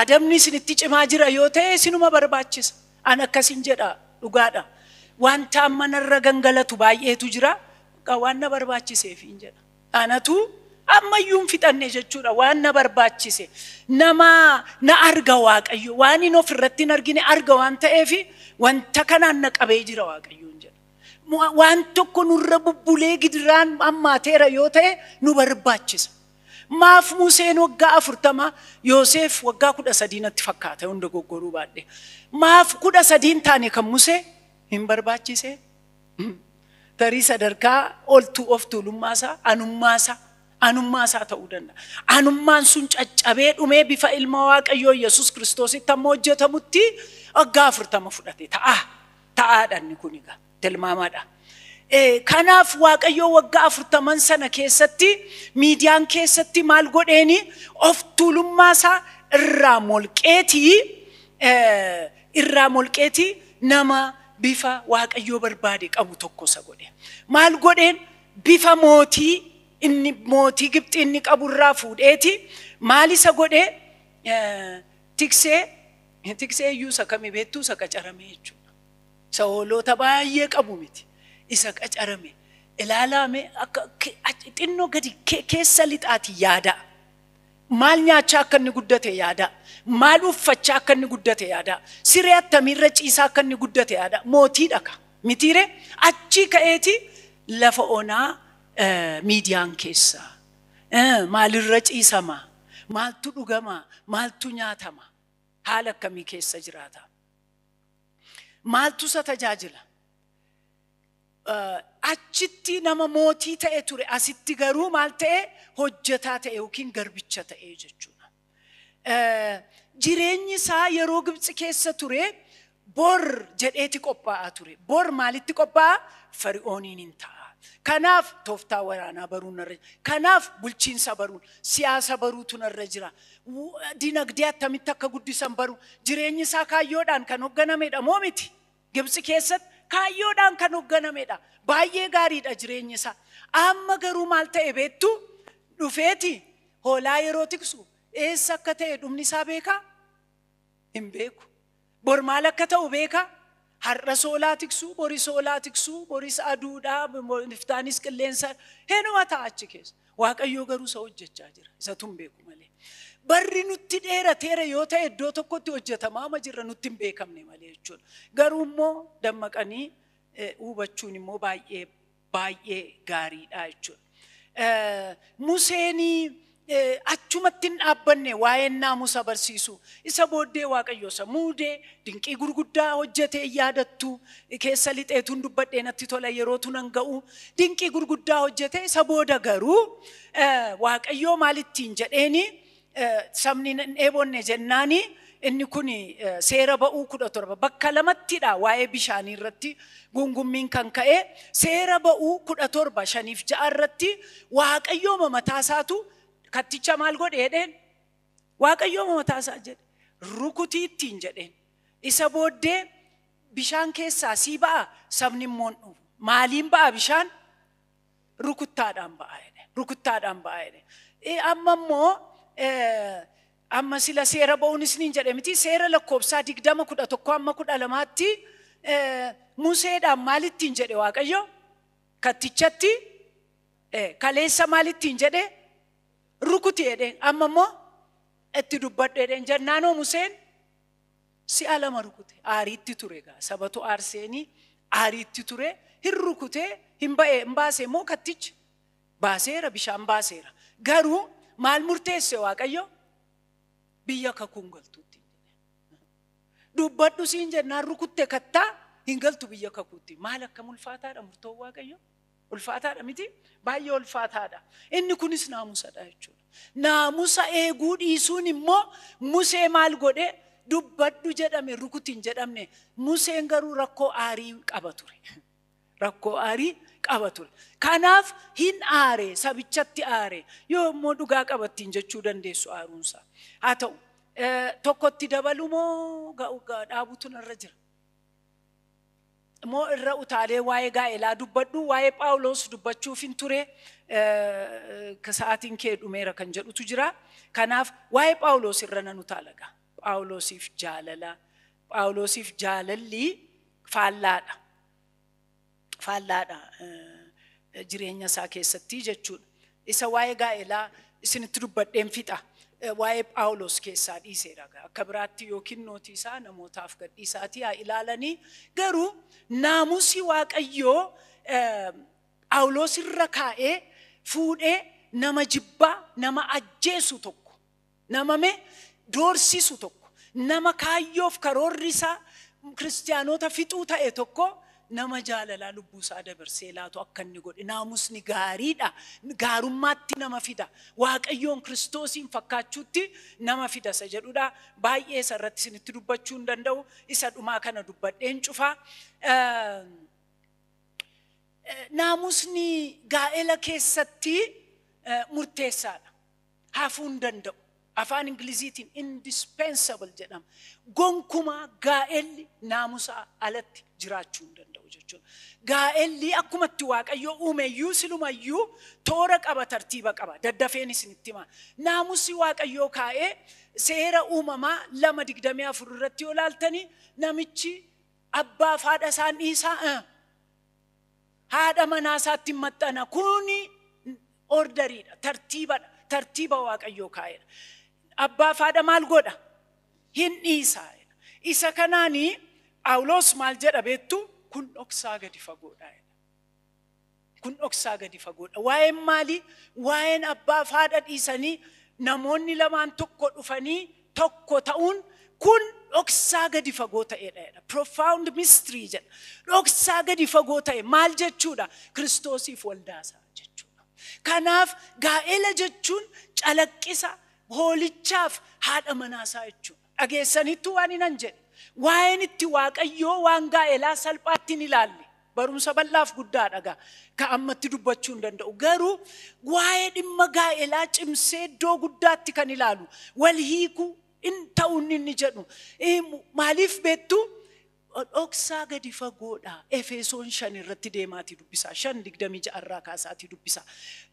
Adabni isin itti cimaa jira yoo ta'e isinuma barbaachisa. An akkasin jedha dhugaadha. Wanta amma narra gangalatu baay'eetu jira. Bakka waan na barbaachiseefiin jedha. Anatu ammayyuu hin fixanne jechuudha waan na barbaachise. Nama na arga Waaqayyo waan hin of irratti hin argine arga waan ta'eef wanta kanaan na qabee jira Waaqayyoon jedha. Waan tokko nurra bubbulee gidiraan hammaateera yoo ta'e nu barbaachisa. Maaf Museen waggaa afurtama Yooseef waggaa kudha sadii natti fakkaata yoon dogoggoruu baadhe. Maaf kudha sadii hin taane kan Musee hin barbaachise. Tarii sadarkaa oltuu of tuulummaasaa anummaasaa anummaasaa ta'uu danda'a. Anummaan sun caccabee dhumee bifa ilma waaqayyoo Yesuus kiristoositti amma hojjetamutti waggaa afurtama fudhate ta'a. Ta'aadha inni kun egaa. tilmaamaadha. Kanaaf Waaqayyoo waggaa afurtaman sana keessatti miidiyaan keessatti maal godheeni of tuulummaa isaa irraa molqeetii irraa molqeetii nama bifa Waaqayyoo barbaade qabu tokko isa godhe. Maal godheen bifa mootii inni mootii Gibxii inni qabu irraa fuudheeti maal isa godhee tiksee tiksee iyyuu isa kami beektuu isa qacaramee jechuudha. Isa hooloota baay'ee qabu miti. Isa qacarame. Ilaalaa mee akka ke- achi- xinnoo gadi ke- keessa lixaati yaadaa. Maal nyaachaa akka inni guddate yaadaa. Maal uffachaa akka inni guddate yaadaa. Siree attamiirra ciisaa akka inni guddate yaadaa. Mootiidha ka. Mitiiree achii ka'eeti lafa onaa eh, miidiyaan keessa. Eh, Maalirra ciisama? Maaltu dhugama? Maaltu nyaatama? Haala akkamii keessa jiraata? Maaltu isa tajaajila? Achitti nama mootii ta'e ture, asitti garuu maal ta'e? Hojjetaa ta'e yookiin garbicha ta'e jechuudha. Jireenyi isaa yeroo Gibtsi keessa ture bor jedheeti qophaa'aa ture. Bor maalitti qophaa'a? Fari'ooniin hin ta'a. Kanaaf tooftaa waraanaa baruun narra jira. Kanaaf bulchiinsa baruun, siyaasa baruutu narra jira. dinagdee attamitti akka guddisan baru. Jireenyi isaa kaayyoodhaan kan hogganamedha moo miti? Gibtsi keessatti kaayyoodhaan kan hogganamedha. Baay'ee gaariidha jireenyi isaa. Amma garuu maal ta'e beektu? Dhufeeti hoolaa yeroo tiksu eessa akka ta'e dhumni isaa beekaa? Hin beeku. Bor maal akka ta'u beeka? Har'as hoolaa tiksuu, boris hoolaa tiksuu, boris aduudha, iftaanis qilleensa hinuma ta'a achi keessa. Waaqayyoo garuu isa hojjechaa jira. Isatu hin beeku malee. Barri nutti dheerateera yoo ta'e iddoo tokkotti hojjetamaa ma jirra nutti hin beekamne malee jechuudha. Garuu immoo dammaqanii eh, hubachuun immoo baay'ee baay'ee gaariidha jechuudha. Museen achumatti hin dhaabbanne waa'een naamusa barsiisu. Isa booddee Waaqayyo isa muude dinqii gurguddaa hojjetee yaadattu keessa lixeetuun dubbadhee natti tola yerootu nan ga'u. Dinqii gurguddaa hojjetee isa booda garuu Waaqayyoo maalittiin jedheeni sabni hin dheebonne jennaani inni kun seera ba'uu kudha torba bakka lamattidha waa'ee bishaanii irratti gungummiin kan ka'e seera ba'uu kudha torba shaniif ja'a irratti waaqayyooma mataa isaatu katticha maal godhe jedheen waaqayyooma mataa isaa jedhe rukutii ittiin jedheen isa booddee bishaan keessaa sii ba'a sabni immoo hin dhufu maaliin ba'a bishaan rukuttaadhaan ba'a jedhe rukuttaadhaan ba'a jedhe Eh, amma immoo eh, amma sila seera ba'uun isiniin jedhe miti seera lakkoofsaa digdama kudha tokko amma kudha lamaatti eh, museedhaan maalittiin jedhe waaqayyo kattichatti eh, kaleessa maalittiin jedhe rukuti jedheen amma immoo itti dubbadhu jedheen jennaanoo museen si'a lama rukute aariitti ture egaa sabatu aarseeni aariitti ture hin rukutee hin ba'e hin baase immoo kattichi baaseera bishaan baaseera garuu maal murteesse waaqayyo biyya kakuun galtuutti dubbadhu siin jennaan rukutte kattaa hin galtu biyya kakuutti maal akka mulfaataadha murtoon waaqayyo Ulfaataadha miti? Baay'ee ulfaataadha. Inni kunis naamusadha jechuudha. Naamusa eeguu dhiisuun immoo Musee maal godhe? Dubbadhu jedhame rukuti hin jedhamne. Museen garuu rakkoo aarii qaba ture. Rakkoo aarii qaba ture. Kanaaf hin aare, sabichatti aare. Yoo immoo dhugaa qabattiin jechuu dandeessu aaruunsaa. Haa ta'u, tokkotti dabalu moo dhaabutu narra jira? moo irra utaalee waa'ee gaa'elaa dubbadhu waa'ee phaawuloos dubbachuufin ture sa'aatiin kee dhumeera kan jedhutu jira kanaaf waa'ee phaawuloos irra nan utaalaga phaawuloosiif jaalala phaawuloosiif jaalalli faallaadha faallaadha jireenya isaa keessatti jechuudha Isa waa'ee gaa'elaa isinitti dubbadheen fixa. Eh, Waa'ee Phaawulos keessaa dhiiseera. Egaa Akka biraatti yookiin nootii isaa namootaaf gadhiisaatii haa ilaalanii. Garuu naamusii Waaqayyoo eh, Phaawulos irra kaa'ee fuudhee nama jibbaa, nama ajjeesu tokko Nama mee doorsisu tokko, nama kaayyoof karoorri isaa Kiristiyaanota fixuu ta'e tokko nama jaalalaa lubbuu isaa dabarsee laatu akka inni godhe naamusni gaariidha. Gaarummaatti nama fida. Waaqayyoon Kiristoosiin fakkaachuutti nama fida isa jedhudha. Baay'ee isa irratti isinitti dubbachuu hin danda'u. Isa dhumaa kana dubbadheen cufa. Naamusni gaa'ela keessatti murteessaadha. hafuu hin danda'u. Afaan Ingiliziitiin indispensable jedhama. Gonkumaa gaa'elli naamusaa alatti jiraachuu hin danda'u jechuudha. Gaa'elli akkuma itti Waaqayyoo uume iyyuu siluma iyyuu toora qaba, tartiiba qaba. Daddafeen isinitti hima. Naamusi Waaqayyoo kaa'ee seera uumamaa lama digdamii afur irratti yoo ilaaltanii namichi abbaaf haadha isaan dhiisaa eh, Haadha manaa isaatti hin maxxana. Kun orderiidha, tartiibadha, tartiiba Waaqayyoo kaa'edha. Abbaaf haadha maal godha? Hin dhiisa. Isa kanaan Phaawulos maal jedha beektu? Kun dhoksaa gadi fagoodha. Kun dhoksaa gadi fagoodha. Waa'een maalii? Waa'een abbaaf haadha dhiisanii namoonni lamaan tokko dhufanii tokko ta'uun kun dhoksaa gadi fagoo ta'edha jedha. Profound mystery jedha. Dhoksaa gadi fagoo ta'e maal jechuudha? Kiristoosiif waldaasaa jechuudha. Kanaaf gaa'ela jechuun calaqqisa hoolichaaf haadha manaasaa jechuudha. Dhageessaniittu waan hinan jedhe. Waa'een itti waaqayyoo waan gaa'elaa salphaatti hin ilaalle. Barumsa bal'aaf guddaadha gaa. Ka ammatti dubbachuu hin danda'u. Garuu waa'ee dhimma gaa'elaa cimsee iddoo guddaatti kan ilaalu wal hiikuu in ta'u inni inni jedhu. Eh, Maaliif beektu? Dhoksaa gadi fagoodha. Efesoon shan irratti deemaatii dubbisaa. Shan digdamii ja'a irraa kaasaatii dubbisaa.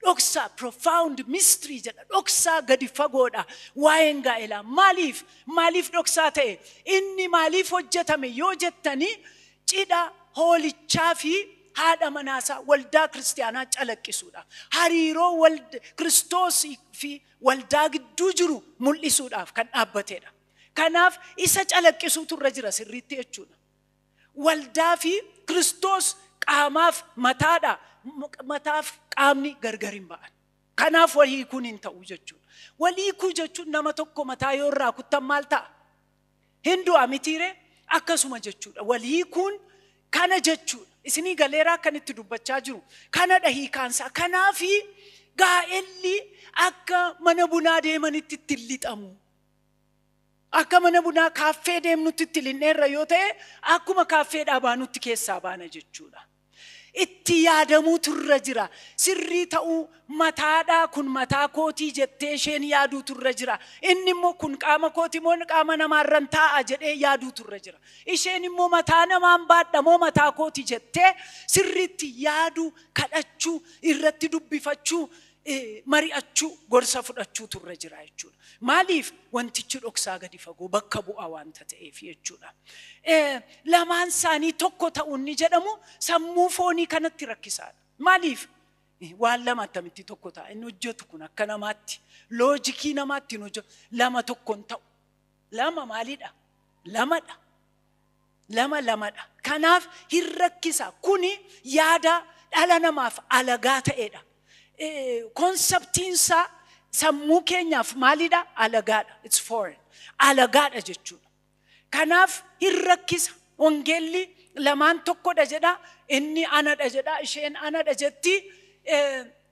Dhoksaa profound mystery jedha. Dhoksaa gadi fagoodha. Waa'een gaa'elaa maaliif? Maaliif dhoksaa ta'e? Inni maaliif hojjetame yoo jettanii Cidha Hoolichaa fi Haadha Manaa Isaa Waldaa Kiristiyaanaa calaqqisuudhaaf, hariiroo wald, Kiristoos fi Waldaa gidduu jiru mul'isuudhaaf kan dhaabbatedha. Kanaaf isa calaqqisuutu irra jira sirriitti jechuudha. Waldaa fi Kiristoos qaamaaf mataadha, mataaf qaamni gargar hin ba'an. Kanaaf wal hiikuun hin ta'u jechuudha. Wal hiikuu jechuun nama tokko mataa yoo irraa kuttan maal ta'a? Hin du'a mitiire akkasuma jechuudha. Wal hiikuun kana jechuudha. Isinii galeeraa akkan itti dubbachaa jiru. Kanadha hiikaansaa. Kanaafi gaa'elli akka mana bunaa deemanitti itti hin lixamu. Akka mana bunaa kaaffee deemnutti itti linnee irra yoo ta'e akkuma kaaffee dhaabaanutti keessaa baana jechuudha. Itti yaadamuutu irra jira. Sirrii ta'uu mataadhaa kun mataa kootii jettee isheen yaaduutu irra jira. Inni immoo kun qaama kooti moo qaama namaarran taa'a jedhee yaaduutu irra jira. Isheen immoo mataa namaan baadha moo mataa kooti jettee sirriitti yaaduu, kadhachuu, irratti dubbifachuu, mari'achuu gorsa fudhachuutu irra jira jechuudha. Maaliif wantichi dhoksaa gadi fagoo bakka bu'aa wanta ta'eef jechuudha. Lamaan isaanii tokko ta'uun ni jedhamu sammuu foonii kanatti rakkisaadha. Maaliif? Waan lama attamitti tokko ta'a inni hojjetu kun akka namaatti loojikii namaatti hin hojjetu lama tokko hin ta'u. Lama maalidha? Lamadha. lama lamadha. Kanaaf hin rakkisa. Kuni yaada dhala namaaf alagaa ta'edha. Konseptiinsaa sammuu keenyaaf maalidha? Alagaadha. It's foreign. Alagaadha jechuudha. Kanaaf hin rakkisa. Wangeelli lamaan tokkodha jedha. Inni anadha jedha. Isheen anadha jetti.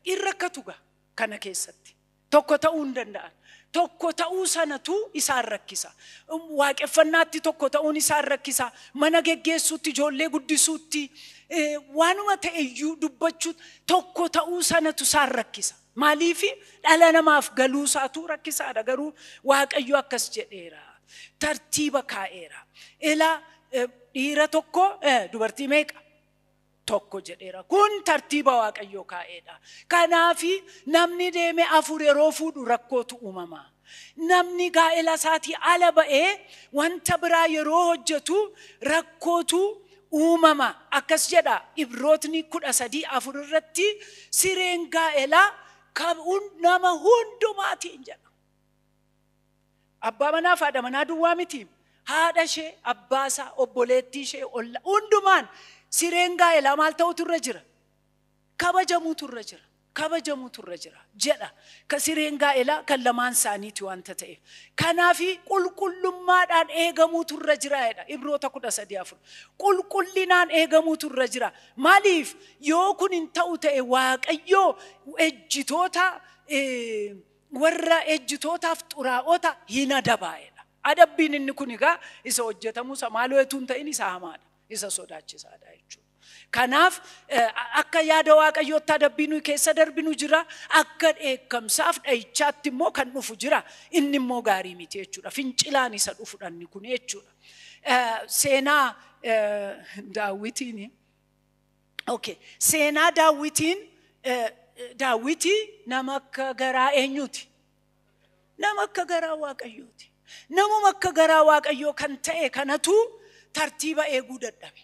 Hin rakkatu gaa kana keessatti. Tokko ta'uu hin danda'an. Tokko ta'uu sanatu isaan rakkisa. Waaqeffannaatti tokko ta'uun isaan rakkisa. Mana geggeessuutti, ijoollee guddisuutti, eh, waanuma ta'e iyyuu dubbachuu tokko ta'uu sanatu isaan rakkisa. Maaliif dhala namaaf galuu isaatu rakkisaadha. Garuu Waaqayyo akkas jedheera. Tartiiba kaa'eera. Ila eh, dhiira tokko eh, dubartii meeqa? tokko jedheera. Kun tartiiba Waaqayyoo kaa'eedha. Kanaaf namni deeme afur yeroo fuudhu rakkootu uumama. Namni gaa'ela isaatii ala ba'ee wanta biraa yeroo hojjetu rakkootu uumama. Akkas jedha Ibrootni kudha sadii afur irratti sireen gaa'elaa kan nama hundumaatiin jedha. Abbaa manaa fi haadha manaa duwwaa miti. Haadha ishee, abbaa isaa, obboleettii ishee, olla hundumaan sireen gaa'elaa maal ta'utu irra jira? Kabajamuutu irra jira. Kabajamuutu irra jira. Jedha. Ka sireen gaa'elaa kan lamaan isaaniiti wanta ta'eef. Kanaafi qulqullummaadhaan eegamuutu irra jira jedha. Ibroota kudha sadii afur. Qulqullinaan eegamuutu irra jira. Maaliif? Yoo kun hin ta'u ta'e Waaqayyoo ejjitoota eh, warra ejjitootaaf xuraa'ota hin adabaa'edha. Adabbiin inni kun egaa isa hojjetamuu isa maaloo etuu hin ta'in isa hamaadha. Isa sodaachisaadha jechuudha. Kanaaf akka yaada waaqayyootti adabbii nuyi keessa darbinu jira. Akka dheekkamsaaf dha'ichaatti immoo kan dhufu jira. Inni immoo gaarii miti jechuudha. Fincilaan isa dhufudha inni kun jechuudha. Seenaa daawwitiin Okay. Seenaa daawwitiin eh, daawwitii nama akka garaa eenyuuti? Nama akka garaa waaqayyooti. Namuma akka garaa waaqayyoo kan ta'e kanatu tartiiba eeguu dadhabe.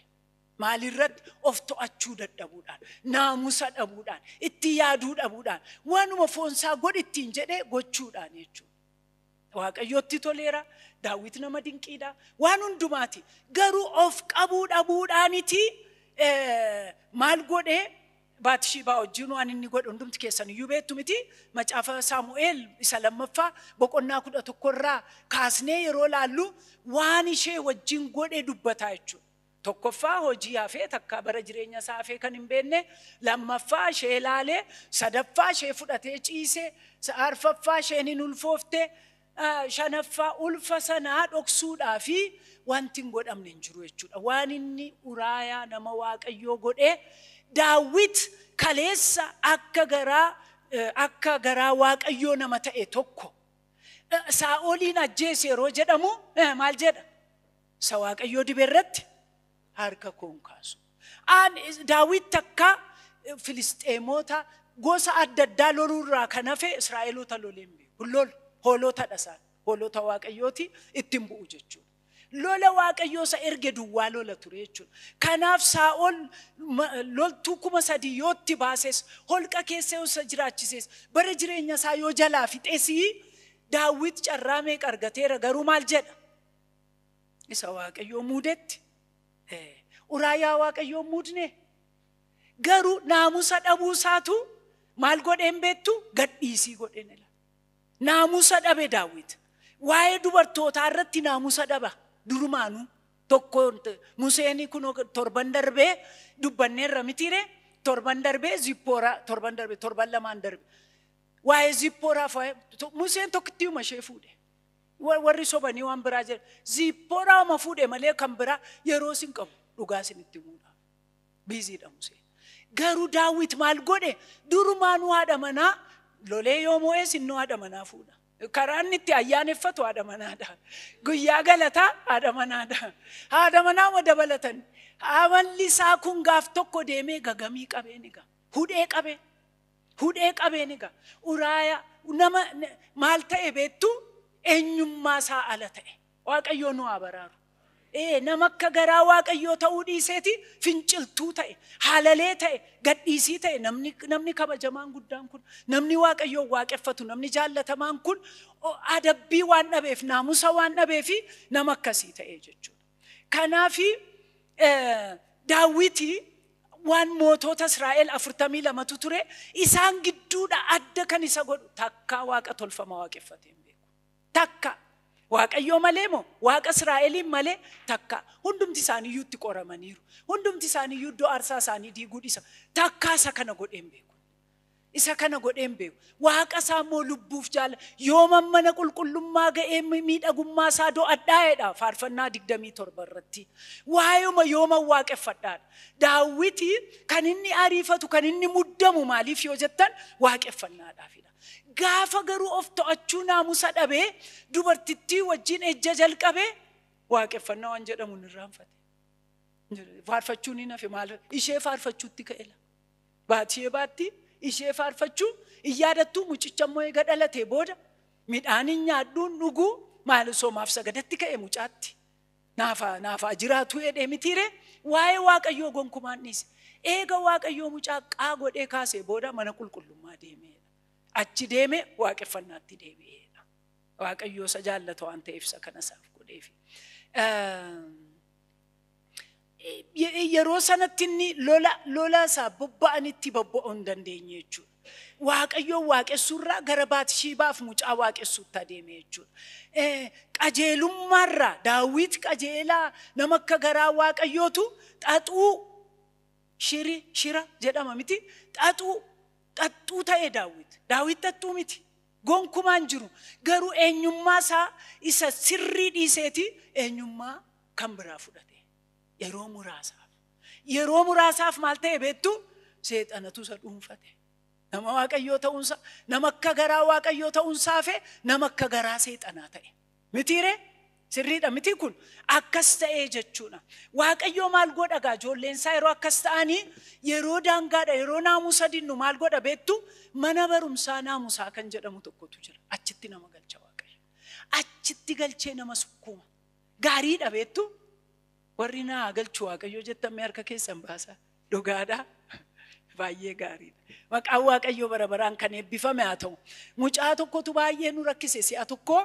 Maalirratti of to'achuu dadhabuudhaan, naamusa dhabuudhaan, itti yaaduu dhabuudhaan, waanuma foonsaa godhi ittiin jedhee gochuudhaan jechuudha. Waaqayyootti toleera, daawwit nama dinqiidha, waan hundumaati. Garuu of qabuu dhabuudhaaniti maal godhee Baatishiibaa wajjin waan inni godhe hundumti keessan iyyuu beektu miti. Macaafa Saamu'eel isa lammaffaa boqonnaa kudha tokkorraa kaasnee yeroo laallu waan ishee wajjin godhe dubbataa jechuudha. Tokkoffaa hojii hafee takkaa bara jireenya isaa hafee kan hin beekne, lammaffaa ishee ilaalee, sadaffaa ishee fudhatee ciise, arfaffaa isheen hin ulfoofte, shanaffaa ulfa sanaa dhoksuudhaa fi wanti hin godhamne hin jiru jechuudha. Waan inni Uraayaa nama Waaqayyoo godhee Daawit kaleessa akka garaa akka garaa Waaqayyoo nama ta'e tokko Saa'oliin ajjeese yeroo jedhamu maal jedha? Isa Waaqayyoo dibe irratti harka koo hin kaasu. Aan Daawit takka Filisxeemoota gosa adda addaa loluu irraa kan hafe Israa'eloota lolee hin beeku. Hin lolu. Hoolotadha isaan. Hoolota Waaqayyooti ittiin bu'u jechuudha. Lola Waaqayyoo isa erge duwwaa lola ture jechuudha. Kanaaf Saa'ol ma- loltuu kuma sadii yoo itti baases, holqa keessa yoo isa jiraachises, bara jireenya isaa yoo jalaa fixesii Daawit carraa meeqa argateera garuu maal jedha? Isa waaqayyoo muudetti. Uraayaa waaqayyoo muudne. Garuu naamusa dhabuu isaatu maal godheen beektu gadhiisii godheen ila. Naamusa dhabe daawwit. Waa'ee dubartootaa irratti naamusa dhaba durumaanuu. Tokko Museen kun torban darbee dubbanneerra mitiire torban darbee zippooraa torban darbee torban lamaan darbe. Waa'ee zippooraaf Museen tokkittiuma ishee fuudhe. Wa- Warri sobanii waan biraa jedha. Ziipporaa ma fuudhe malee kan biraa yeroo sin qabu dhugaa isinitti himuudha. Biiziidha Musee. Garuu daawwit maal godhe durumaa nu haadha manaa lolee yoo moo'ee sin nu haadha manaa fuudha. Karaa inni itti ayyaaneffatu haadha manaadha. Guyyaa galataa haadha manaadha. Haadha manaa ma dabalatan. Amalli isaa kun gaaf tokko deemee gagamii qabeen egaa. Hudhee qabee. Hudhee qabeen egaa uraaya nama maal ta'e beektu eenyummaa isaa ala ta'e. Waaqayyoo nu haa baraaru. Ee nama akka garaa waaqayyoo ta'uu dhiiseeti finciltuu ta'e, haalalee ta'e, gadhiisii ta'e namni, namni kabajamaan guddaan kun, namni waaqayyoo waaqeffatu, namni jaallatamaan kun o- adabbii waan dhabeef, naamusa waan dhabeefi nama akkasii ta'e jechuudha. Kanaaf daawwiti waan mootoota Israa'el afurtamii lamatu ture isaan gidduudha adda kan isa godhu takkaa waaqa tolfama waaqeffatee hin beeku. Takka waaqayyoo malee moo waaqa Israa'eliin malee takka hundumti isaaniiyyuu itti qoramaniiru. Hundumti isaaniiyyuu iddoo aarsaa isaanii diiguu dhisa takkaa isa kana godhee hin beeku. Isa kana godhee hin beeku. Waaqa isaa immoo lubbuuf jaala. Yooman mana qulqullummaa ga'ee miidhagummaa isaa do'adhaa'edha faarfannaa 27 irratti. Waayuma yooman waaqeffadhaadha. Daawwiti kan inni ariifatu kan inni muddamu maaliif yoo jettan waaqeffannaadhaafidha. Gaafa garuu of to'achuu naamusa dhabee dubartittii wajjin ejja jalqabee waaqeffannaa waan jedhamu hin irraanfate. Faarfachuun hin hafe maal ishee faarfachuutti ka'ela. Baatsheebaatti ishee faarfachuu hin yaadattuu mucicha immoo eega dhalatee booda midhaan hin nyaadhuu hin dhuguu maal osoo maaf sagadatti ka'e mucaatti naafa naafaa jiraatuu jedhee mitiiree waa'ee waaqayyoo gonkumaan dhiise eega waaqayyoo mucaa qaa godhee kaasee booda mana qulqullummaa deemeedha achi deeme waaqeffannaatti deebi'eedha waaqayyoo isa jaallata waan ta'eef isa kana isaaf godheefi. Eh, yeroo sanatti inni lola lola isaa bobba'anitti bobba'uu hin dandeenye jechuudha. Waaqayyoon waaqessuurraa gara Baatishiibaaf mucaa waaqessuutti adeeme jechuudha. Qajeelummaarraa daawwit qajeelaa nama akka garaa waaqayyootu xaxuu shiri shira jedhama miti xaxuu xaxxuu ta'e daawwit. Daawwit xaxxuu miti. Gonkumaan jiru garuu eenyummaa isaa isa sirrii dhiiseeti eenyummaa kan biraa fudhate yeroo muraasaaf yeroo muraasaaf maal ta'e beektu seexanatu isa dhuunfate nama waaqayyoo ta'uunsaa nama akka garaa waaqayyoo ta'uunsaa fi nama akka garaa seexanaa ta'e mitiiree sirriidha mitii kun akkas ta'ee jechuudha waaqayyoo maal godha gaa ijoolleensaa yeroo akkas ta'anii yeroo daangaadha yeroo naamusa dinnu maal godha beektu mana barumsaa naamusaa kan jedhamu tokkotu jira achitti nama galcha waaqayyo achitti galchee nama sukkuuma Gaariidha beektu warri naa haa galchu waaqayyoo jettan mee harka keessan baasaa. Dhugaadha. Baay'ee gaariidha. Maqaan waaqayyoo bara baraan kan eebbifame haa ta'u. Mucaa tokkotu baay'ee nu rakkise si'a tokko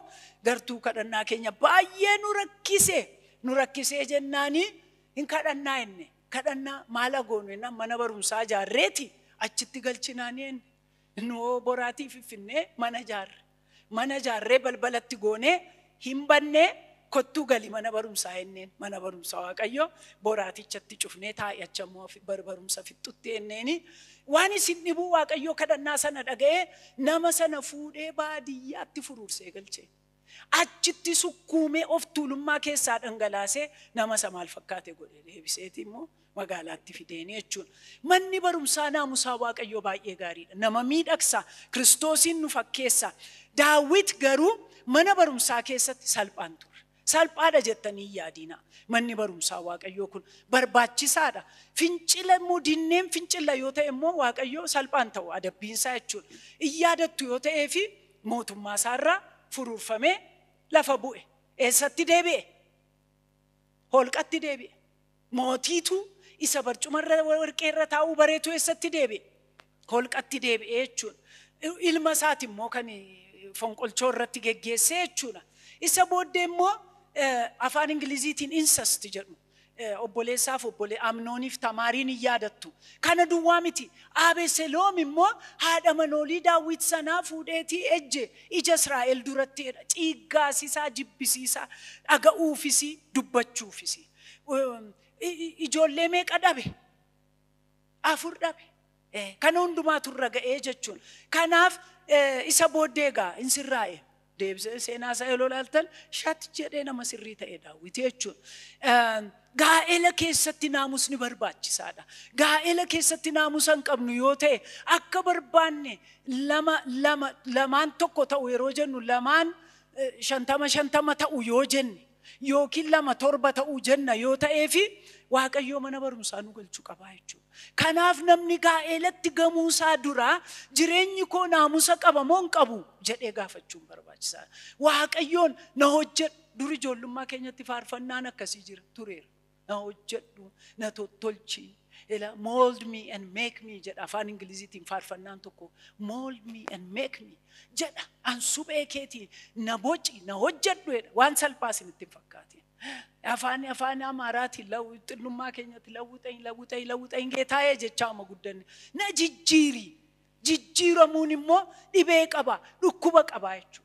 gartuu kadhannaa keenya baay'ee nu rakkise. Nu rakkisee jennaanii hin kadhannaa jenne. Kadhannaa maal goonu jennaan mana barumsaa ijaarreeti achitti galchinaanii jenne. Noo boraatii fiffinnee mana ijaarre. Mana ijaarree balbalatti goonee hin bannee kottuu gali mana barumsaa jenneen. Mana barumsa Waaqayyoo boraatichatti cufnee taa'i achi ammoo bar barumsa fixxutti jenneeni. Waan isin dhibuu Waaqayyoo kadhannaa sana dhaga'ee nama sana fuudhee baadiyyaatti furuursee galchee. Achitti sukkuumee of tuulummaa keessaa dhangalaasee nama isa maal fakkaate godhe deebiseeti immoo magaalaatti fideeni jechuudha. Manni barumsaa naamusaa Waaqayyoo baay'ee gaariidha. Nama miidhagsa, Kiristoosiin nu fakkeessa. Daawit garuu mana barumsaa keessatti salphaan ture. Salphaadha jettanii hin yaadiina. Manni barumsaa Waaqayyoo kun barbaachisaadha. Fincila immoo dinneen fincila yoo ta'e immoo Waaqayyoo salphaan ta'u adabbiinsaa jechuudha. Hin yaadattu yoo ta'ee fi mootummaa isaarraa furuurfamee lafa bu'e. Eessatti deebi'e? Holqatti deebi'e. Mootiitu isa barcuma irra warqee irra taa'uu bareetu eessatti deebi'e? Holqatti deebi'e jechuudha. Ilma isaati immoo kan fonqolchoo irratti geggeesse jechuudha. Isa booddee immoo afaan Ingiliziitiin insast jedhu. Obboleessaaf obbolee Amnooniif Tamaariin hin yaadattu. Kana duwwaa miti. Abeseloom immoo haadha manoolii Daawwit sanaa fuudheetii ejje ija Israa'el duratti jedha. Ciiggaasisaa jibbisiisaa dhaga'uufisi dubbachuufisi. ijoollee meeqa dhabe afur dhabe kana hundumaatu irra ga'ee jechuun kanaaf isa booddee egaa hin sirraa'e deebisee seenaa isaa yeroo ilaaltan shat jedhee nama sirrii ta'e daawwiti jechuun gaa'ela keessatti naamusni barbaachisaadha gaa'ela keessatti naamusa hin qabnu yoo ta'e akka barbaanne lama lama lamaan tokko ta'u yeroo jennu lamaan shantama shantama ta'u yoo jenne yookiin lama torba ta'uu jenna yoo ta'eefi Waaqayyoo mana barumsaa nu galchu qabaa jechuudha. Kanaaf namni gaa'eelatti gamuu isaa duraa jireenyi koo naamusa qaba moo hin qabu jedhee gaafachuun barbaachisaa. Waaqayyoon na hojjedhu dur ijoollummaa keenyatti faarfannaan akkasii jira tureera. na hojjedhu na tottolchi ela mold me and make me jedha afaan ingiliziitiin faarfannaan tokko mold me and make me jedha an suphee keetii na boci na hojjedhu jedha waan salphaa isinitti hin fakkaatiin afaan afaan amaaraati lawu xinnummaa keenyatti lawwixayin lawwixayin lawwixayin geetaayee jechaa amma guddanne na jijjiiri jijjiiramuun immoo dhibee qaba dhukkuba qaba jechuudha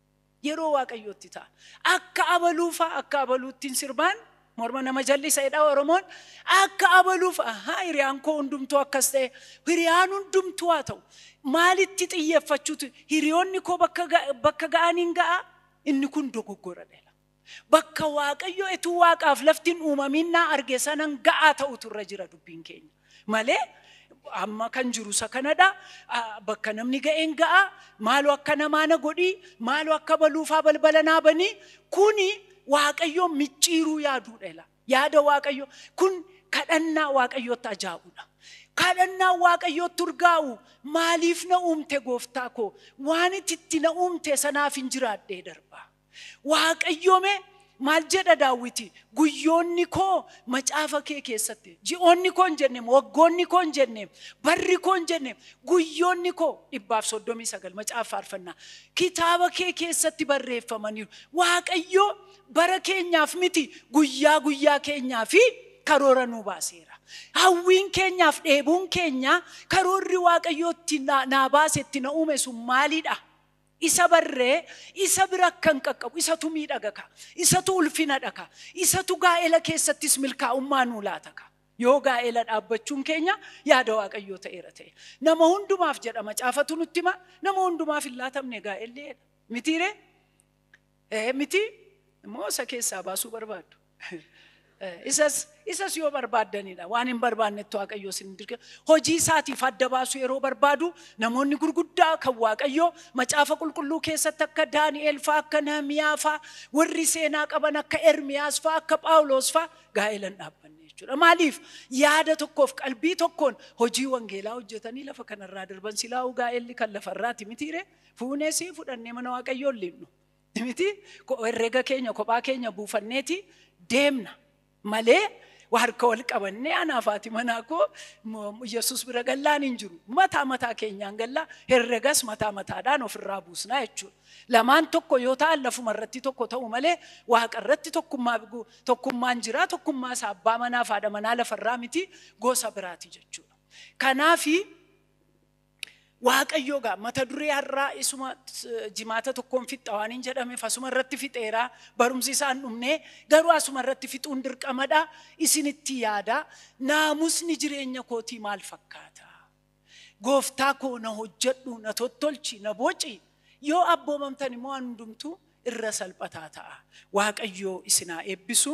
Yeroo waaqayyootti ta'a. Akka abaluu fa'a akka abaluuttiin sirbaan morma nama jallisa jedha Oromoon. Akka abaluu fa'a haa hiriyaan koo hundumtuu akkas ta'e hiriyaan hundumtuu haa ta'u. Maalitti xiyyeeffachuutu hiriyoonni koo bakka ga- bakka ga'aniin ga'a inni kun dogoggoradha jedha. Bakka Waaqayyo etuu waaqaaf lafti hin uumamiin naa arge sanan ga'aa ta'utu irra jira dubbiin keenya. Malee amma kan jiru isa kanadha. Bakka namni ga'een ga'a. Maaloo akka namaa na godhii. Maaloo akka baluufaa balbala naa banii. Kuni Waaqayyoon micciiruu yaaduudha ila. Yaada Waaqayyo kun kadhannaa Waaqayyootti ajaa'udha. Kadhannaa Waaqayyootti urgaa'u maaliif na uumte gooftaa koo waan itti na uumte sanaafin jiraadhee darbaa. Waaqayyoo mee maal jedha daawwiti guyyoonni koo macaafa kee keessatti ji'oonni koo hin jenne waggoonni koo hin jenne barri koo hin jenne guyyoonni koo dhibbaaf soddomii sagal macaafa faarfannaa kitaaba kee keessatti barreeffamaniiru waaqayyoo bara keenyaaf miti guyyaa guyyaa keenyaa fi karoora nuu baaseera hawwiin keenyaaf dheebuun keenyaa karoorri waaqayyoo itti naa baase itti na uume sun maalidha Isa barree isa bira akkan qaqqabu isatu miidhaga kaa, isatu ulfinadha kaa, isatu gaa'ela keessattis milkaa'ummaa nuu laata kaa. Yoo gaa'ela dhaabbachuun keenya yaada Waaqayyoo ta'eera ta'e. Nama hundumaaf jedha macaafatu nutti hima, nama hundumaaf hin laatamne gaa'elli jedha. Mitiiree? Ee miti immoo isa keessaa baasuu barbaaddu. Isas isas yoo barbaaddanidha waan hin barbaannetti waaqayyoo sin dirqe hojii isaatiif adda baasuu yeroo barbaadu namoonni gurguddaa kan waaqayyoo macaafa qulqulluu keessatti akka Daani'eel faa akka Nahimiyaa faa warri seenaa qaban akka Ermiyaas faa akka Phaawuloos faa gaa'elan dhaabbanne jechuudha. Maaliif yaada tokkoof qalbii tokkoon hojii wangeelaa hojjetanii lafa kanarraa darban silaa'uu gaa'elli kan lafarraati mitiiree? Fuunee sii fudhannee mana waaqayyoo hin liinnu. Miti ko- herrega keenya kophaa keenya buufanneeti deemna malee waa harka wal qabannee anaaf haati manaa koo mo- Yesuus bira gallaan hin jiru. Mataa mataa keenyaan gallaa herregas mataa mataadhaan ofirraa buusnaa jechuudha. Lamaan tokko yoo ta'an lafuma irratti tokko ta'u malee waaqa irratti tokkummaa gu- tokkummaan jiraa tokkummaa isaa abbaa manaa fi haadha manaa lafarraa miti gosa biraati jechuudha. Kanaafi Waaqayyoo gaa mata duree har'aa isuma jimaata tokkoon fixxa waan hin jedhameef asuma irratti fixeera barumsi isaan dhumne garuu asuma irratti fixuun dirqamadha isinitti yaada naamusni jireenya kootii maal fakkaata gooftaa koo na hojjedhu na tottolchi na boci yoo abboomamtan immoo waan hundumtuu irra salphataa ta'a waaqayyoo isinaa eebbisu